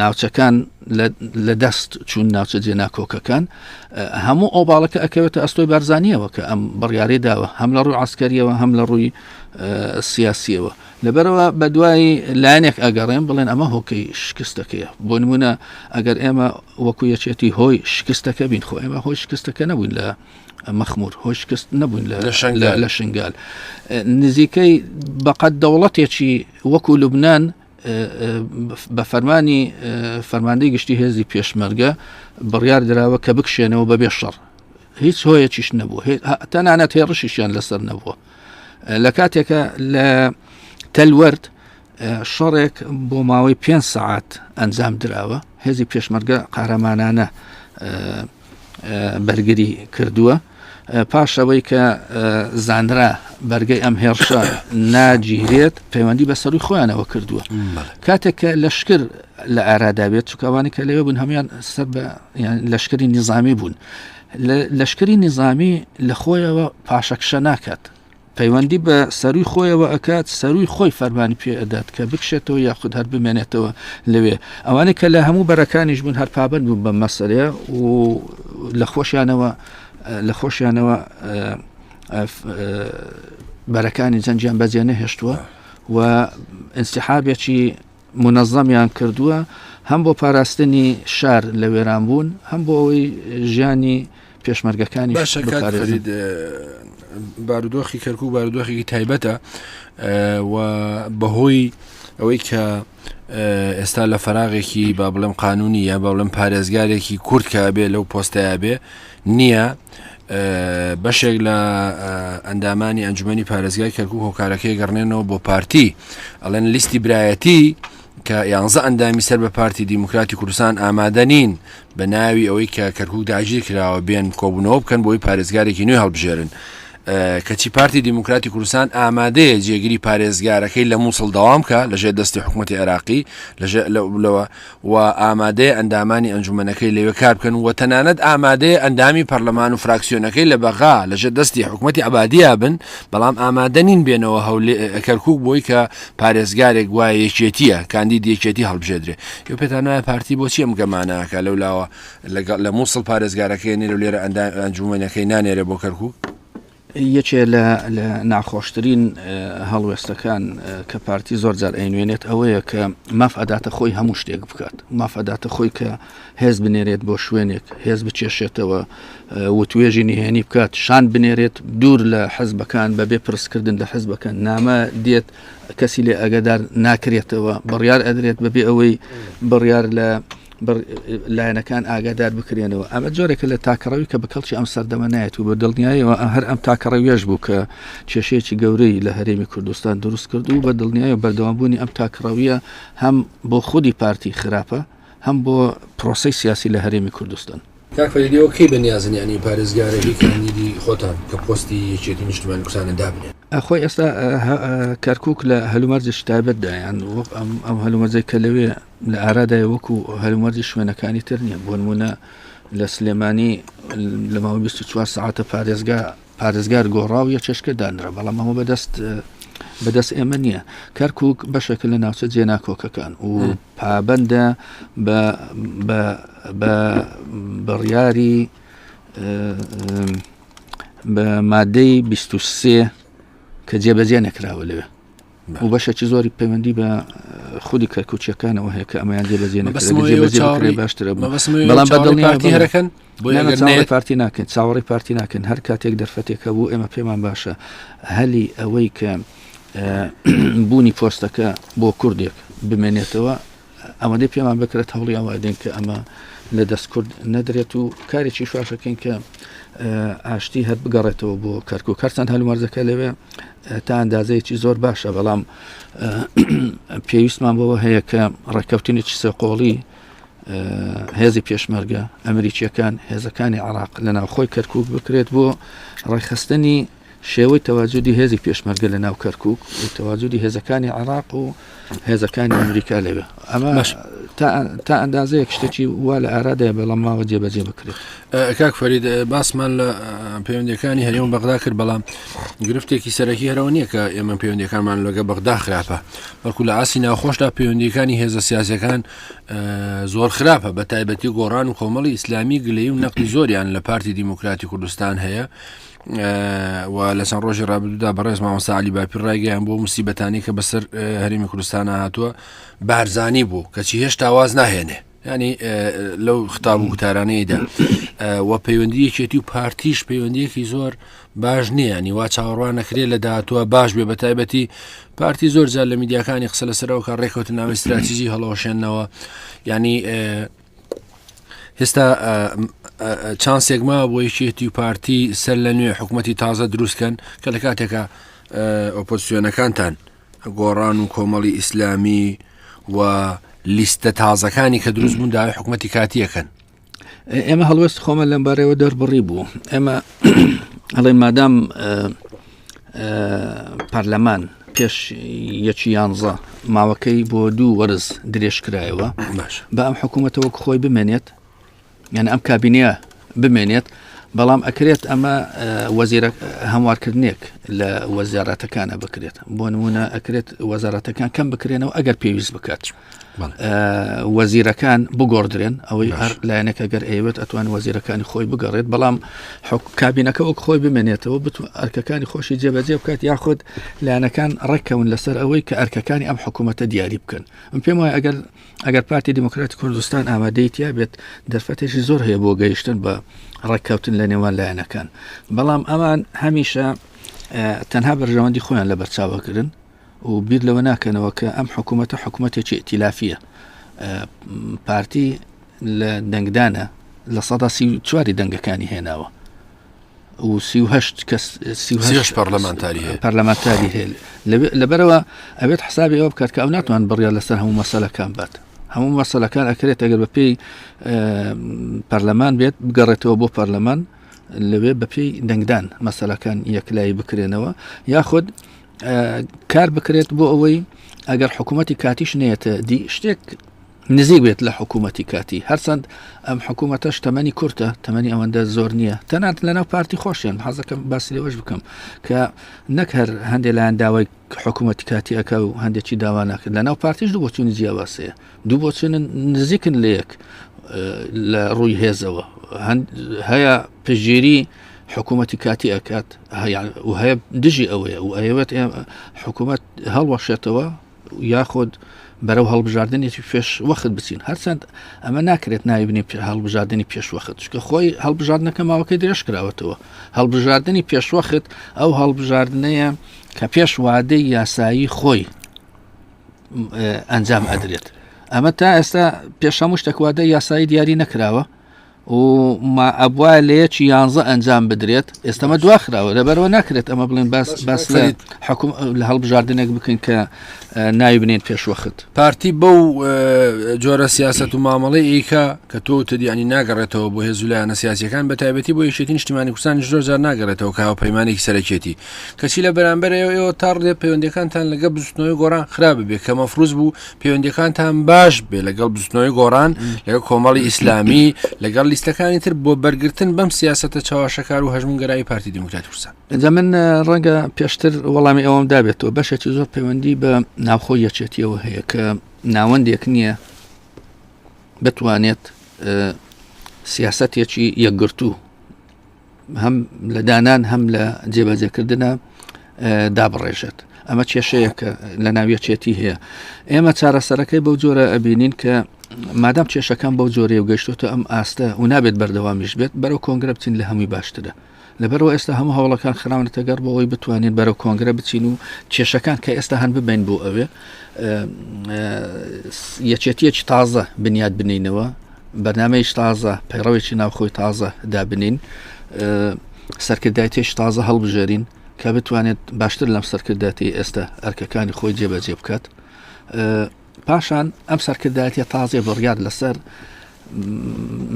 ناوچەکان لە دەست چون ناوچە جێ ناکۆکەکان هەموو ئەو باڵەکە ئەکەوێتە ئەستۆی بارزانانیەوە کە ئەم بڕیارەی داوە هەم لە ڕووی عسکەریەوە هەم لە ڕووی سیاسیەوە لەبەرەوە بە دوای لایەنێک ئەگەڕێن بڵێن ئەمە هۆکەی شکستەکەیە بۆ نمونە ئەگەر ئێمە وەکو یەکێتی هۆی شکستەکە بین خۆ ئێمە هۆی شکستەکە نەبووین لە مەخمور هۆی شکست نەبووین لە شنگال نزیکەی بەقەت دەوڵەتێکی وەکو لوبنان بە فەرمانی فەرماندەی گشتی هێزی پێشمەرگە بڕیار دراوە کە بکشێنەوە بەبێ شەڕ هیچ هۆیەکیش نەبوو تەنانەت هێڕشیشیان لەسەر نەبووە لە کاتێکە لە تەلوەرد شەڕێک بۆ ماوەی پێ سعات ئەنجام دراوە هێزی پێشمەرگە قارەمانانە بەرگری کردووە پاش ئەوەی کە زانرا بەرگەی ئەم هێڕشە ناگیرێت پەیوەندی بە سەروی خۆیانەوە کردووە کاتێک کە لەشکر لە ئاراداوێت چکوانی کە لەوێ بوون هەموان سەر بە لەشکری نیزامی بوون لەشکری نیزامی لە خۆیەوە پاشەکشە ناکات پەیوەندی بە سەروی خۆیەوە ئەکات سەروی خۆی فەرمانی پێ ئەدات کە بکشێتەوە یاخود هەر بمێنێتەوە لەوێ ئەوانە کە لە هەموو بەرەکانیش بوون هەر پابند بوون بە مەسەرەیە و لە خۆشیانەوە لە خۆشیانەوە بەرەکانی جەنجیان بەجێ نەهێشتووە و ئەسیحابێکی مونەزەمیان کردووە هەم بۆ پاراستنی شار لە وێران بوون هەم بۆ ئەوەی ژیانی پێشمەرگەکانی بارودۆخی کەرکک بارودۆخێکی تایبەتە و بەهۆی ئەوەی کە ئێستا لە فراغێکی با بڵێم قانونی یا با بڵێم پارێزگارێکی کورتکە بێ لەو پۆستەیە بێ نییە بەشێک لە ئەندامانی ئەنجومی پارێزگای کەرکک هۆکارەکەی گەڕنێنەوە بۆ پارتی ئەلێن لیستی برایەتی کە یانزە ئەندامی سەر بە پارتی دیموکراتی کوردستان ئامادەنین بە ناوی ئەوەی کە کەرکک داگیر کراوە بێن کۆبوونەوە بکەن بۆی پارێزگارێکی نوێ هەڵبژێرن کەچی پارتی دیموکراتی کوردستان ئامادەیە جێگیری پارێزگارەکەی لە مووسڵ داوام کە لەژێ دەستی حکوومەتتی عێراقی لەژێ لەوە و ئامادەیە ئەندامانی ئەنجومەنەکەی لەوێ کار بکەن و تەنانەت ئامادەیە ئەندامی پەرلەمان و فراکسیۆنەکەی لە بەغا لەژێر دەستی حکومەتی عەبادیا بن، بەڵام ئامادە نین بێنەوە هەولێ، کەرکوک بۆی کە پارێزگارێک گوایە یەکێتییە، کاندید یەکێتی هەڵبژێدرێ. ئێوە پێتان وایە پارتی بۆچی ئەم گەمانە ئەکا، لەولاوە لە موسڵ پارێزگارەکەی ئەنێرێ و لێرە ئەندامی ئەنجومەنەکەی نانێرێ بۆ کەرکوک؟ یەکێ لە ناخۆشترین هەڵوێستەکان کە پارتی زۆر جار ئەینوێنێت ئەوەیە کە ماف ئەداتە خۆی هەموو شتێک بکات ماف ئەداتە خۆی کە هێز بنێرێت بۆ شوێنێک هێز بچێشێتەوە وتوێژی نهێنی بکات شان بنێرێت دوور لە حەزبەکان بە بێ پرسکردن لە حەزبەکە نامە دێت کەسی لێ ئەگەدار ناکرێتەوە بڕیار ئەدرێت بەبێ ئەوەی بڕیار لە لایەنەکان ئاگادار بکرێنەوە ئەمە جۆرێکە لە تاکەڕەوی کە بە کەڵکی ئەم سەردەمە نایەت و بە دڵنیایەوە هەر ئەم تاکەڕەویش بوو کە کێشەیەکی گەورەی لە هەرێمی کوردستان دروست کرد و بە دڵنیایە بەردەوامبوونی ئەم تاکڕەویە هەم بۆ خودی پارتی خراپە هەم بۆ پرۆسی سیاسی لە هەرێمی کوردستان کاکفەریدەوە کەی بە نیازنیانی پارێزگارە هی کاندیدی خۆتان کە پۆستی یەکێتی نیشتمانی کوردستانە دابنێن ئەخۆی ئێستا کەرکک لە هەلومەرجش تایبەتدایان وەک ئەم هەلومەرجەی کە لەوێ لە ئارادای وەکو هەلومەرجی شوێنەکانی تر نییە بۆنمونە لە سلێمانی لە ماوە 24 ساعتە پارێزگا پارێزگار گۆڕاو یە چێشکە دانرا بەڵام ئەمە بەدەست بەدەست ئێمە نییە کەرکک بەشێکە لە ناوچە جێناکۆکەکان و پابندە بە بڕیاری بە مادەی 23 کە جێبەجێ نەکراوە لەوێ و بەشێکی زۆری پەیوەندی بە خودی کەرکوچیەکانەوە هەیە کە ئەمەیان جێ بەزیێن بەزیێ باشترە بەڵام بەدڵنیارەکەن پارتی ناکەن چاوەڕی پارتی ناکەن هەر کاتێک دەرفەتێکە بوو ئێمە پێمان باشە هەلی ئەوەی کە بوونی پۆستەکە بۆ کوردێک بمێنێتەوە ئەوەندەی پێمان بکرێت هەوڵی ئەوادێن کە ئەمە لە دەست کورد نەدرێت و کارێکی شواشەکەین کە ئاشتی هەر بگەڕێتەوە بۆ کەرک و کەرسان هەلومەرزەکە لەوێ تا ئەندازەیەکی زۆر باشە بەڵام پێویستمان بەوە هەیە کە ڕێککەوتنێکی سەقۆڵی هێزی پێشمەرگە ئەمریکیەکان هێزەکانی عراق لە ناوخۆی کەرکک بکرێت بۆ ڕێکخستنی شێوەی تەواجودی هێزی پێشمەرگە لە ناو کەرکک و تەواجودی هێزەکانی عێراق و هێزەکانی ئەمریکا لەوێ ئەمە تا ئەندازەیەک شتێکی وا لە ئارادای بەڵام ماوە جێبەجێ بکرێت کاک فەرید باسمان لە پەیوەندەکانی هەرێم بەغدا کرد بەڵام گرفتێکی سەرەکی هەرەوە نییە کە ئێمە پەیوەندەکانمان لەگە بەغدا خراپە بەکو لە ئاسی ناوخۆشدا پەیوەندیەکانی هێزە سیاسەکان زۆر خراپە بە تایبەتی گۆڕان و کۆمەڵی ئیسلامی گلەی و نەقی زۆریان لە پارتی دیموکراتی کوردستان هەیە و لە چەند ڕۆژی ڕابردوودا بەڕێز مامۆستا علی باپیر ڕایگەیان بۆ مسیبەتانی کە بەسەر هەرمی کوردستانە هاتووە بارزانی بوو کەچی هێشتا واز ناهێنێ ینی لەو خطاب و گوتارانەیەدا و پەیوەندیەکێتی و پارتیش پەیوەندیەکی زۆر باش نییە نیوا چاوەڕوان نەکرێ لە داهاتوە باش بێ بە تایبەتی پارتی زۆر جار لە میدیاکانی قسە لەسەرەوە کە ڕێکوتنناوی استراتیژی هەڵەوەشێنەوە ینی ئێستا چانسێک ما بۆ یەکێتی و پارتی سەر لە نوێ حکوومەتتی تازە دروستکەن کە لە کاتێکە ئۆپۆسیۆنەکانتان گۆڕان و کۆمەڵی ئیسلامی و لیستە تازەکانی کە دروست بوون داوای حکوومەتتی کاتیەکەن ئێمە هەڵوەست خۆمە لەم بارەوە دەربڕی بوو ئێمە ئەڵێ مادام پەرلەمان پێش یەکی یانزە ماوەکەی بۆ دوو وەرز درێژ کرایەوە بە ئەم حکوومەتەوە خۆی بمێنێت یان ئەم کابینەیە بمێنێت بەڵام ئەکرێت ئەمە وەزیرە هەموارکردنێک لە وەزیارەتەکانە بکرێت بۆ نمونە ئەکرێت وەزارەتەکان کەم بکرێنەوە ئەگەر پێویست بکات وەزیرەکان بگۆڕدرێن ئەوەی هەر لایەنەکە گەر ئەیوێت ئەتوان وەزیرەکانی خۆی بگەڕێت بەڵام کابینەکە وەک خۆی بمێنێتەوە بتو ئەرکەکانی خۆشی جێبەجێ بکات یاخود لایەنەکان ڕێککەون لەسەر ئەوەی کە ئەرکەکانی ئەم حکوومەتە دیاری بکەن من پێم وایە ئەگەر ئەگەر پارتی دیموکراتی کوردستان ئامادەیتیا بێت دەرفەتێکی زۆر هەیە بۆ گەیشتن بە ڕێککەوتن لە نێوان لایەنەکان بەڵام ئەمان هەمیشە تەنها بەرژەوەندی خۆیان لە بەرچاوەکردن و بیر لەوە ناکەنەوە کە ئەم حکوومەتە حکوومەتێکی ئتیلافیە پارتی لە دەنگدانە لە سەدا سی چواری دەنگەکانی هێناوە و سیهشت کەس سیهش پەرلەمانتاری پەرلەمانتاری هێل لەبەرەوە ئەوێت حسابی ئەوە بکات کە ئەو ناتوان بڕیان لەسەر هەموو مەسەلەکان بات هەموو مەسەلەکان ئەکرێت ئەگەر بە پێی پەرلەمان بێت بگەڕێتەوە بۆ پەرلەمان لەوێ بەپی دەنگدان مەسەلەکان یەکلایی بکرێنەوە یاخود کار بکرێت بۆ ئەوەی ئەگەر حکوومەتتی کاتیش نێتە دی شتێک نزیک بێت لە حکوومەتتی کاتی هەرچەند ئەم حکوومەتەش تەمەنی کورتە تەمەنی ئەوەندە زۆر نییە تەنات لەناو پارتی خۆشیان حەزەکەم باسی لەوەش بکەم کە نەک هەر هەندێک لایەن داوای حکوومەتتی کاتیەکە و هەندێکی داوانەکە لەناو پارتیش دوو بۆچوونی جیاواسەیە دوو بۆچونە نزیکن لە یەک لە ڕووی هێزەوە هەیە پژگیری حکوومەتتی کاتی ئەکات و هەیە دژی ئەوەیە و ئەوێت حکوومەت هەڵوەشێتەوە یاخود بەرەو هەڵبژاردنێکی پێش وەخت بچین هەرچەند ئەمە ناکرێت ناویبنی پێ هەڵبژاردننی پێشوەخت چکە خۆی هەڵبژاردنەکە ماوەکەی درێژ کراوەتەوە هەڵبژاردننی پێشوەخت ئەو هەڵبژاردنەیە کە پێش وادەی یاسایی خۆی ئەنجام ئەدرێت ئەمە تا ئێستا پێشەمو شتەکوادە یاسایی دیاری نەکراوە و ما ئەبوا لە یەکی یانزە ئەنجام بدرێت ئێستەمە دواخراوە لەبەرەوە ناکرێت ئەمە بڵێن باس باس لە حکوم لە هەڵبژاردنێک بکەین کە ناوی بنێن پێشوەخت پارتی بەو جۆرە سیاست و مامەڵی ئیکە کە تۆ تدیانی ناگەڕێتەوە بۆ هێزولایەنە سیاسەکان بە تایبەتی بۆ یشێتی نیشتیمانی کوردستان زۆر زار ناگەڕێتەوە کە هاوپەیمانێکی سەرەکێتی کەچی لە بەرامبەر ئێوە ئێوە تا ڕدێ پەیوەندەکانتان لەگە بزوتنەوەی گۆڕان خراپ بێ کە مەفروز بوو پەیوەندەکانتان باش بێ لەگەڵ بزوتنەوەی گۆڕان لەگە کۆمەڵی ئیسلامی لەگەڵ لیستەکانی تر بۆ بەرگتن بەم سیاستە چاواشەکار و هەژمونگەرایی پارتی دموکرات کوردستان ئەجا من ڕەنگە پێشتر وەڵامی ئەوم دابێتەوە بەشێکی زۆر پەیوەندی بە ناوخۆ یەچێتیەوە هەیە کە ناوەندێک نییە بتوانێت سیاستێکی یەکگرتوو هەم لە دانان هەم لە جێبەجێکردە دابڕێژێت ئەمە کێشەیەکە لە ناویەچێتی هەیە ئێمە چارەسەرەکەی بەو جۆرە ئەبینین کە مادام کێشەکان بەو جۆرەیە و گەشتۆتە ئەم ئاستە و نابێت بەردەوامیش بێت بەرەو کۆنگرە بچین لە هەمووی باشترە لەبەرەوە ئێستا هەموو هەوڵەکان خراونەتە گەڕ بۆ ئەوی بتوانین بەرەو کۆنگرە بچین و کێشەکان کە ئێستا هەن ببین بۆ ئەوێ یەکێتیەکی تازە بنیاد بنینەوە بەرنامەیەکی تازە پەیڕەوێکی ناوخۆی تازە دابنین سەرکردایەتێکی تازە هەڵبژێرین کە بتوانێت باشتر لەم سەرکردایەتی ئێستا ئەرکەکانی خۆی جێبەجێ بکات پاشان ئەم سەرکردایەتە تازێ بڕیار لەسەر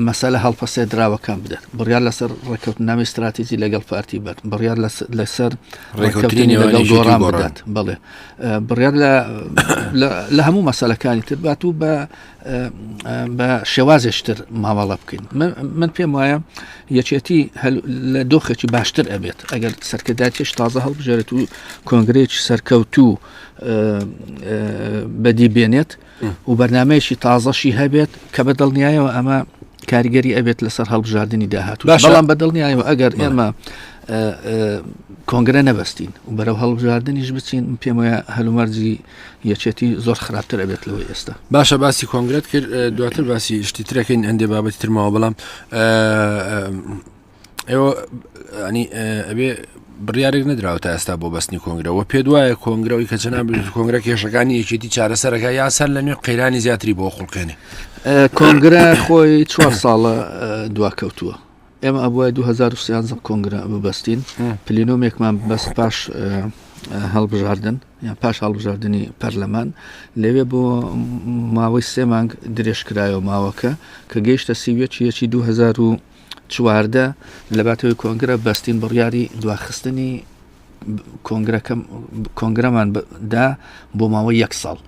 مەسەلە هەڵپەسێ دراوەکان بدات بڕیار لەسەر ڕێککەوت نامی استراتیزی لەگەڵ پارتی بات بڕیار لەسەر ڕێککەوتنی لەگەڵ گۆڕان بدات بڵێ بڕیار لە هەموو مەسەلەکانی تر بات و بە بە شێوازێشتر مامەڵە بکەین من پێم وایە یەکێتی لە دۆخێکی باشتر ئەبێت ئەگەر سەرکرداتێش تازە هەڵبژێت و کۆنگرێکی سەرکەوت و بەدی بێنێت و بەرنمەیەکی تازەشی هەبێت کە بە دڵنیایەوە ئەمە کاریگەری ئەبێت لەسەر هەڵبژاردننی داهاتوو بەڵام بە دڵنیایەوە ئەگەر ئێمە کۆنگرە نەبستین و بەرەو هەڵبژاردننیش بچین پێم وایە هەلومەرجی یەکێتی زۆر خراپتر ئەبێت لەوە ئێستا باشە باسی کۆنگرێت کرد دواتر باسی شتی ترەکەین ئەندێ بابەتی ترماوە بەڵام ئێوە ئەنی ئەبێ بڕارێک نەدراوە تا ئێستا بۆ بەستنی کۆنگرەوە پێ دوایە کۆنگرەوەی کە چەنا کۆنگرە کێشەکانی یەکێتی چارەسەرەکە یا سەر لە نوێ قەیرانی زیاتری بۆ خوڵقێنێ کۆنگرە خۆی چوار ساڵە دواکەوتووە ئێمە ئەبووە 2013 کۆنگرە ببەستین پلینۆمێکمان بەست پاش هەڵبژاردن یان پاش هەڵبژاردننی پەرلەمان لەوێ بۆ ماوەی سێ مانگ درێژکرایەوە ماوەکە کە گەیشتە سیویەکی یەکی 2000 چواردە، لەباتەوەی کۆنگرە بەستین بڕیاری دواخستنی کۆنگرەمان دا بۆ ماوەی یەک ساڵ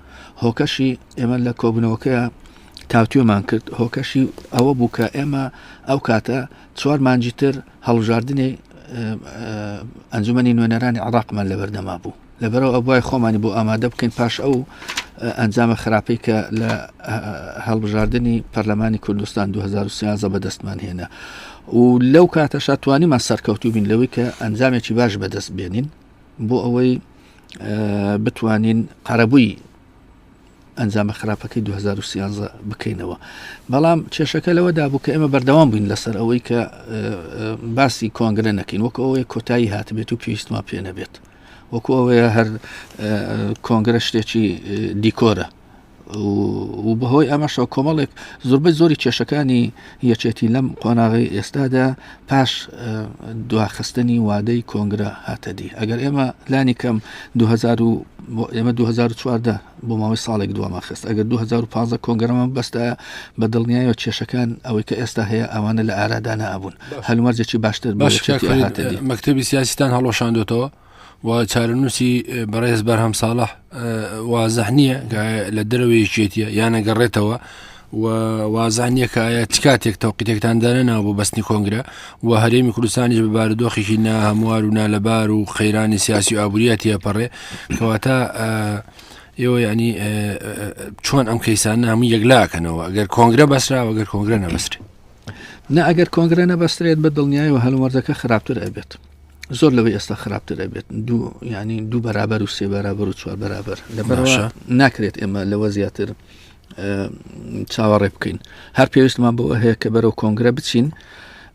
هۆکەشی ئێمە لە کۆبنەوەکەیە تاوتوێمان کرد هۆکەشی ئەوە بوو کە ئێمە ئەو کاتە چوار مانجی تر هەڵبژاردنی ئەنجومی نوێنەرانی عراقمان لەبەردەما بوو لەبەرەوە ئەبوای خۆمانی بۆ ئامادە بکەین پاش ئەو ئەنجامە خراپەی کە لە هەڵبژاردننی پەرلەمانی کوردستان 2013 بەدەستمان هێنا و لەو کاتەشا توانیمان سەرکەوتوو بین لەوەی کە ئەنجامێکی باش بەدەست بێنین بۆ ئەوەی بتوانین قەرەبووی ئەنجامە خراپەکەی 2013 بکەینەوە بەڵام کێشەکە لەوە دابوو کە ئێمە بەردەوام بووین لەسەر ئەوەی کە باسی کۆنگرە نەکەین وەک ئەوەیە کۆتایی هاتبێت و پێویستمان پێ نەبێت وەکو ئەوەیە هەر کۆنگرە شتێکی دیکۆرە و بەهۆی ئەمەشەوە کۆمەڵێک زۆربەی زۆری کێشەکانی یەکێتی لەم قۆناغی ئێستادا پاش دواخستنی وادەی کۆنگرە هاتەدی ئەگەر ئێمە لانی کەم 2000 ئێمە 2014 بۆ ماوەی ساڵێک دوامان خست ئەگەر 2015 کۆنگەرەمان بەستایە بە دڵنیایەوە کێشەکان ئەوەی کە ئێستا هەیە ئەوانە لە ئارادا نابوون هەلومەرجێکی باشتر مەکتتەبی سیاسیتان هەڵۆشاندۆتەوە و چارەنووسی بەڕێز بەرهەم ساڵح وازح نییە لە دەرەوەیەکێتە یانەگەڕێتەوە و وازانیە کە ئایا چ کاتێک تەوقیتێکتان دانەناوە بۆ بەستنی کۆنگرە و هەرێمی کوردستانیش بە بارودۆخێکی ناهەموار و نالەبار و قەیرانی سیاسی و ئابووریە تێپەڕێ کەواتە ئێوە ینی چۆن ئەم کەیسانە هەموو یەکلاکەنەوە ئەگەر کۆنگرە بەسراوە گەر کۆنگرە نەبەسرێت نە ئەگەر کۆنگرە نەبەسترێت بە دڵنیای و هەلومەردەکە خراپتر ئەبێت زۆر لەوەی ئێستا خراپتر ئەبێت دوو ینی دوو بەرابەر و سێ بەرابەر و چوار بەرابەر لە ناکرێت ئێمە لەوە زیاتر چاوەڕێ بکەین هەر پێویستمان بۆ هەیە کە بەرەو کۆنگرە بچین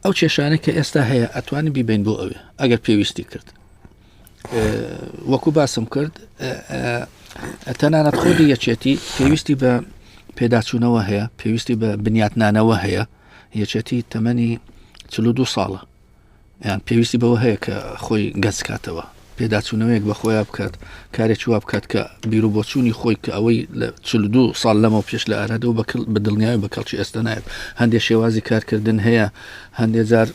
ئەو کێشانە کە ئێستا هەیە ئەتوانین بیبین بۆ ئەوێ ئەگەر پێویستی کرد وەکو باسم کرد تەنانەت خودی یەکێتی پێویستی بە پێداچوونەوە هەیە پێویستی بە بنیاتنانەوە هەیە یەکێتی تەمەنی چلو دو ساڵە یان پێویستی بەوە هەیە کە خۆی گەنج کاتەوە، پێداچوونەوەیەک بە خۆیا بکات، کارێکی وا بکات کە بیروبۆچوونی خۆی کە ئەوەی لە چل و دوو ساڵ لەمەو پێش لە ئارادەوە بە کڵ بە دڵنیاوی بە کەڵکی ئێستا نایەت. هەندێ شێوازی کارکردن هەیە، هەندێ جار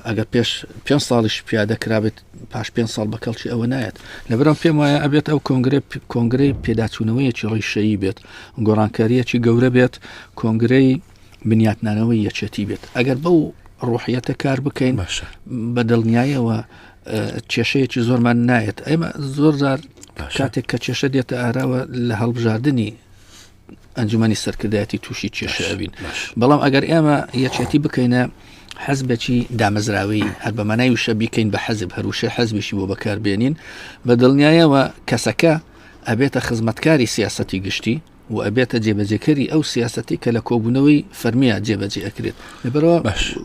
ئەگەر پێش پێنج ساڵیش پیادە کرابێت پاش پێنج ساڵ بە کەڵکی ئەوە نایەت. لەبەرم پێم وایە ئەبێت ئەو کۆنگرەی کۆنگرەی پێداچوونەوەیەکی ڕیشەیی بێت، گۆڕانکارییەکی گەورە بێت، کۆنگرەی بنیاتنانەوەی یەکێتی بێت ئەگەر بەو ڕۆحیەتە کار بکەین باشە بە دڵنیایەوە کێشەیەکی زۆرمان نایەت ئێمە زۆر زار کاتێک کە کێشە دێتە ئاراوە لە هەڵبژاردننی ئەنجومی سەرکردایەتی تووشی کێشەبین بەڵام ئەگەر ئێمە یەکێتی بکەینە حەزبێکی دامەزراوی هەر بە مانای وشە بیکەین بە حەزب هەروشە حەزبیشی بۆ بەکاربێنین بە دڵنیایەوە کەسەکە ئەبێتە خزمەتکاری سیاستی گشتی و ئەبێتە جێبەجێکەری ئەو سیاسەتی کە لە کۆبوونەوەی فەرمیە جێبەجێ ئەکرێت لەبەرەوە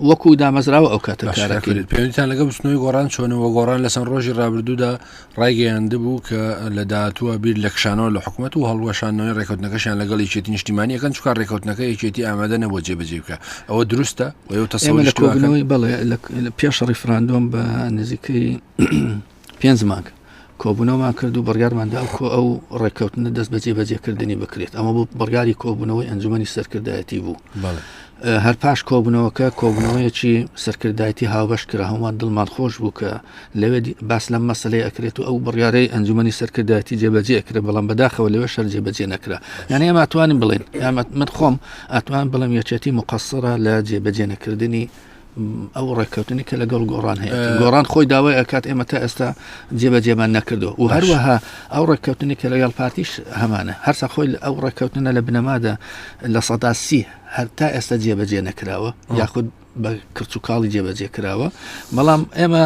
وەکو دامەزراوە ئەو کاتە کارەکەێت پێویستان لەگە بچنەوەی گۆڕان چۆنەوە گۆڕان لە چەند ڕۆژی ڕابردوودا ڕایگەیاند بوو کە لە داهاتووە بیر لە کشانەوە لە حکوومەت و هەڵوەشانەوەی ڕێکوتنەکەشیان لەگەڵ یەکێتی نیشتیمانیەکەن چکار ڕێکوتنەکە یەکێتی ئامادە نەبوو جێبەجێ بکە ئەوە دروستە و تەسەوەی بەڵێ لە پێش ڕیفراندۆم بە نزیکەی پێنج مانگ کۆبوونەوەمان کرد و بڕیارمان دا کۆ ئەو ڕێککەوتنە دەست بە جێبەجێکردنی بکرێت ئەمە بۆ بڕیاری کۆبوونەوەی ئەنجومی سەرکردایەتی بوو هەر پاش کۆبوونەوەکە کۆبوونەوەیەکی سەرکردایەتی هاوبەش کرا هەمووان دڵمان خۆش بوو کە لەوێ باس لەم مەسلەی ئەکرێت و ئەو بڕیارەی ئەنجومی سەرکردایەتی جێبەجێ کرێ بەڵام بەداخەوە لەوێ شەر جێبەجێ نەکرا یعنی ئەمە توانین بڵێن یامەت من خۆم ئەتوان بڵم یەکێتی مقصرە لە جێبەجێ نەکردنی ئەو ڕێککەوتنی کە لەگەڵ گۆڕان هەیە گۆڕان خۆی داوای ئەکات ئێمە تا ئێستا جێبەجێمان نەکردو و هەروەها ئەو ڕێککەوتنی کە لەگەڵ پارتیش هەمانە هەرسا خۆی ئەو ڕێککەوتنە لە بنەمادا لە سەدا سی هەر تا ئێستا جێبەجێ نەکراوە یاخود بە کرچ و کاڵی جێبەجێ کراوە بەڵام ئێمە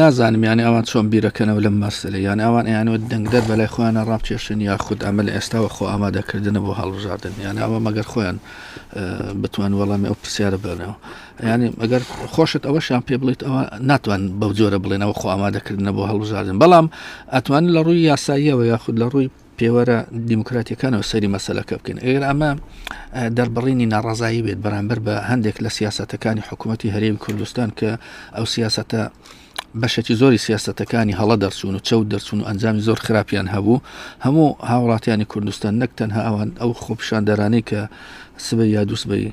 نازانم یانە ئەوان چۆن بیرەکەنەوە لەم مەسلە یان ئەوان ئەیانەوە دەنگدەر بەلای خۆیانە ڕاپچێشن یا خود ئەمە لە ئێستاوە خۆ ئامادەکردنە بۆ هەڵبژاردن یان ئەوە مەگەر خۆیان بتوان وەڵامی ئەو پرسیارە بەرەوە ینی ئەگەر خۆشت ئەوەشیان پێ بڵیت ئەوە ناتوان بەو جۆرە بڵێنەوە خۆ ئامادەکردنە بۆ هەڵبژاردن بەڵام ئەتوان لە ڕووی یاساییەوە یاخود لە ڕووی پێوەرە دیموکراتیەکانەوە سەری مەسلەکە بکەن ئێر ئەمە دەربڕینی ناڕازایی بێت بەرامبەر بە هەندێک لە سیاستەکانی حکوومەتتی هەرێم کوردستان کە ئەو سیاستە بەشێکی زۆری سیاستەکانی هەڵە دەرچوون و چەوت دەرچوون و ئەنجامی زۆر خراپیان هەبوو هەموو هاوڵاتیانی کوردستان نەک تەنها ئەوان ئەو خۆپشاندەرانەی کە سبە یا دووسبەی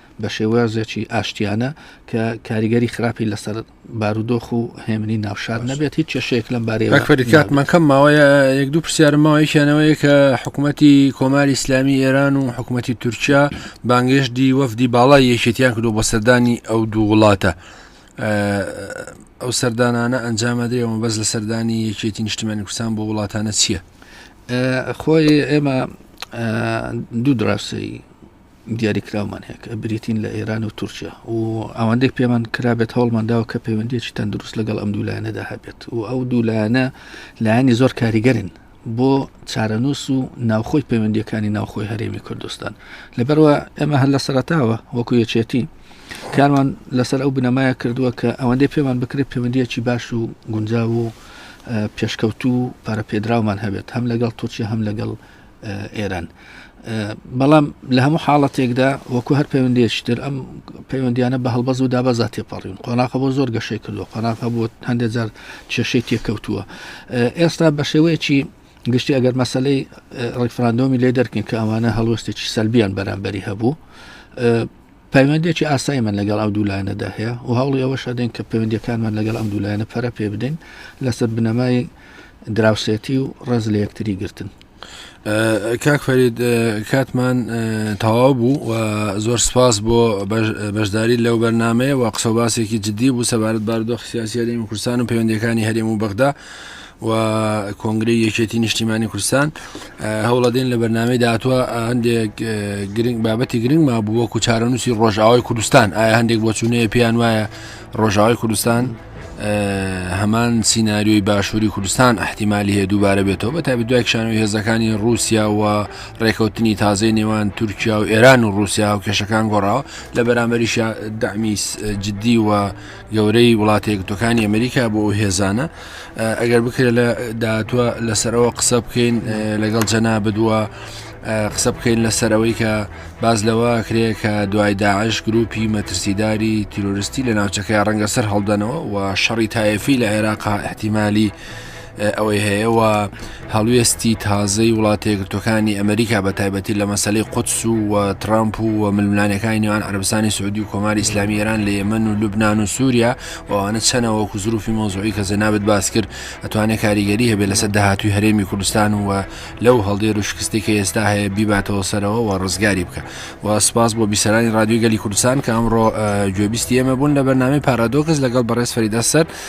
بە شێوازێکی ئاشتیانە کە کاریگەری خراپی لەسەر بارودۆخ و هێمنی ناوشار نەبێت هیچ کێشەیەک لەم بارەیە فەریکات منکەم ماوەیە یەک دوو پرسیارمەوەیکیانەوەی کە حکوومەتتی کۆماری ئسلامی ئێران و حکوومەتتی تورکیا بانگێشتی وەفدی باڵای یەکێتیان کردو بە سەردانی ئەو دوو وڵاتە ئەو سەردانانە ئەنجامەدرێەوە بەس لە سەردانی یەکێتی نیشتمانی کوردستان بۆ وڵاتانە چییە خۆی ئێمە دوو دراسی دیاریکراومان هەیە کە بریتین لە ئێران و تورکیا و ئەوەندەی پێمان کرابێت هەوڵمان داوە کە پەیوەندیەکی تەندروست لەگەڵ ئەم دوولایەنەدا هەبێت و ئەو دوولایەنە لایەنی زۆر کاریگەرن بۆ چارەنووس و ناوخۆی پەیوەندیەکانی ناوخۆی هەرێمی کوردستان لەبەرەوە ئێمە هەر لە سەرتاوە وەکو یەکێتی کارمان لەسەر ئەو بنەمایە کردووە کە ئەوەندەی پێمان بکرێت پەیوەندیەکی باش و گونجاو و پێشکەوتو و پارە پێدراومان هەبێت هەم لەگەڵ تورکیا هەم لەگەڵ ئێران بەڵام لە هەموو حاڵەتێکدا وەکو هەر پەیوەندێکتر ئەم پەیوەندیانە بە هەڵبەز و دابەزا تێپەڕین قۆناقە بۆ زۆر گەشەی کردو قۆناقە بۆ هەندێک جار کێشەی تێکەوتووە ئێستا بە شێوەیەکی گشتی ئەگەر مەسلەی ڕیفراندۆمی لێ دەرکن کە ئەوانە هەڵوەستێکی سەلبیان بەرامبەری هەبوو پەیوەندییەکی ئاساییمان لەگەڵ ئەو دوو لایەنەدا هەیە و هەوڵی ئەوەش ئەدەین کە پەیوەندییەکانمان لەگەڵ ئەم دوو لایەنە پەرە پێ بدەین لەسەر بنەمای دراوسێتی و ڕێز لە یەکتری گرتن کاک فەرید کاتمان تەواو بوو و زۆر سپاس بۆ بەشداری لەو بەرنمەیە و قسە باسێکی جددی بوو سەبارەت باردۆخ سیاسیەرێمی کوردستان و پەیوەندەکانی هەرێم و بەغدا و کۆنگرەی یەکێتی نیشتیمانی کوردستان هەوڵەدەین لە بەرنمەی داهاتوە هەندێک گرنگ بابەتی گرنگ ما بووە و چارەنووسی ڕۆژاوای کوردستان ئایا هەندێک بۆچوونەیە پێیان وایە ڕۆژاوای کوردستان هەمان سینناریۆی باشووری کوردستان احتیممالی هەیە دووبارە بێتەوە بە تابی دوای کشانەوەی هێزەکانی رووسیا و ڕێکەوتنی تازەی نێوان تورکیا و ئێران و رووسیا و کێشەکان گۆڕاوە لە بەرامبەریش دامیس جددی و گەورەی وڵاتە یەکگرتوەکانی ئەمریکا بۆ ئەو هێزانە ئەگەر بکرێت لە داهاتوە لەسەرەوە قسە بکەین لەگەڵ جەنا بدووە قسە بکەین لەسەر ئەوەی کە باز لەوە کرێ کە دوای داعش گروپی مەترسیداری تیرۆریستی لە ناوچەکەی ڕەنگە سەر هەڵدەنەوە و شەڕی تایفی لە عێراقا احتیممالی ئەوەی هەیە و هەڵوێستی تازەی وڵاتە یەکگرتوەکانی ئەمریکا بە تایبەتی لە مەسلەی قودس و و ترامپ و و ململانەکانی نێوان عربستانی سعودی و کۆماری ئسلامی ئێران لە یەمەن و لوبناان و سووریا وانە چەنە وەکو زروفی مۆزوعی کە جەنابت باس کرد ئەتوانێت کاریگەری هەبێ لەسەر داهاتوی هەرێمی کوردستان و لەو هەڵدێر و شکستی کە ئێستا هەیە بیباتەوە سەرەوە و ڕزگاری بکە و سپاس بۆ بیسەرانی رادیوی گەلی کوردستان کە ئەمڕۆ گوێبیستی ئێمە بوون لە بەرنامی پارادۆکس لەگەڵ بەڕێز فەریدە سەر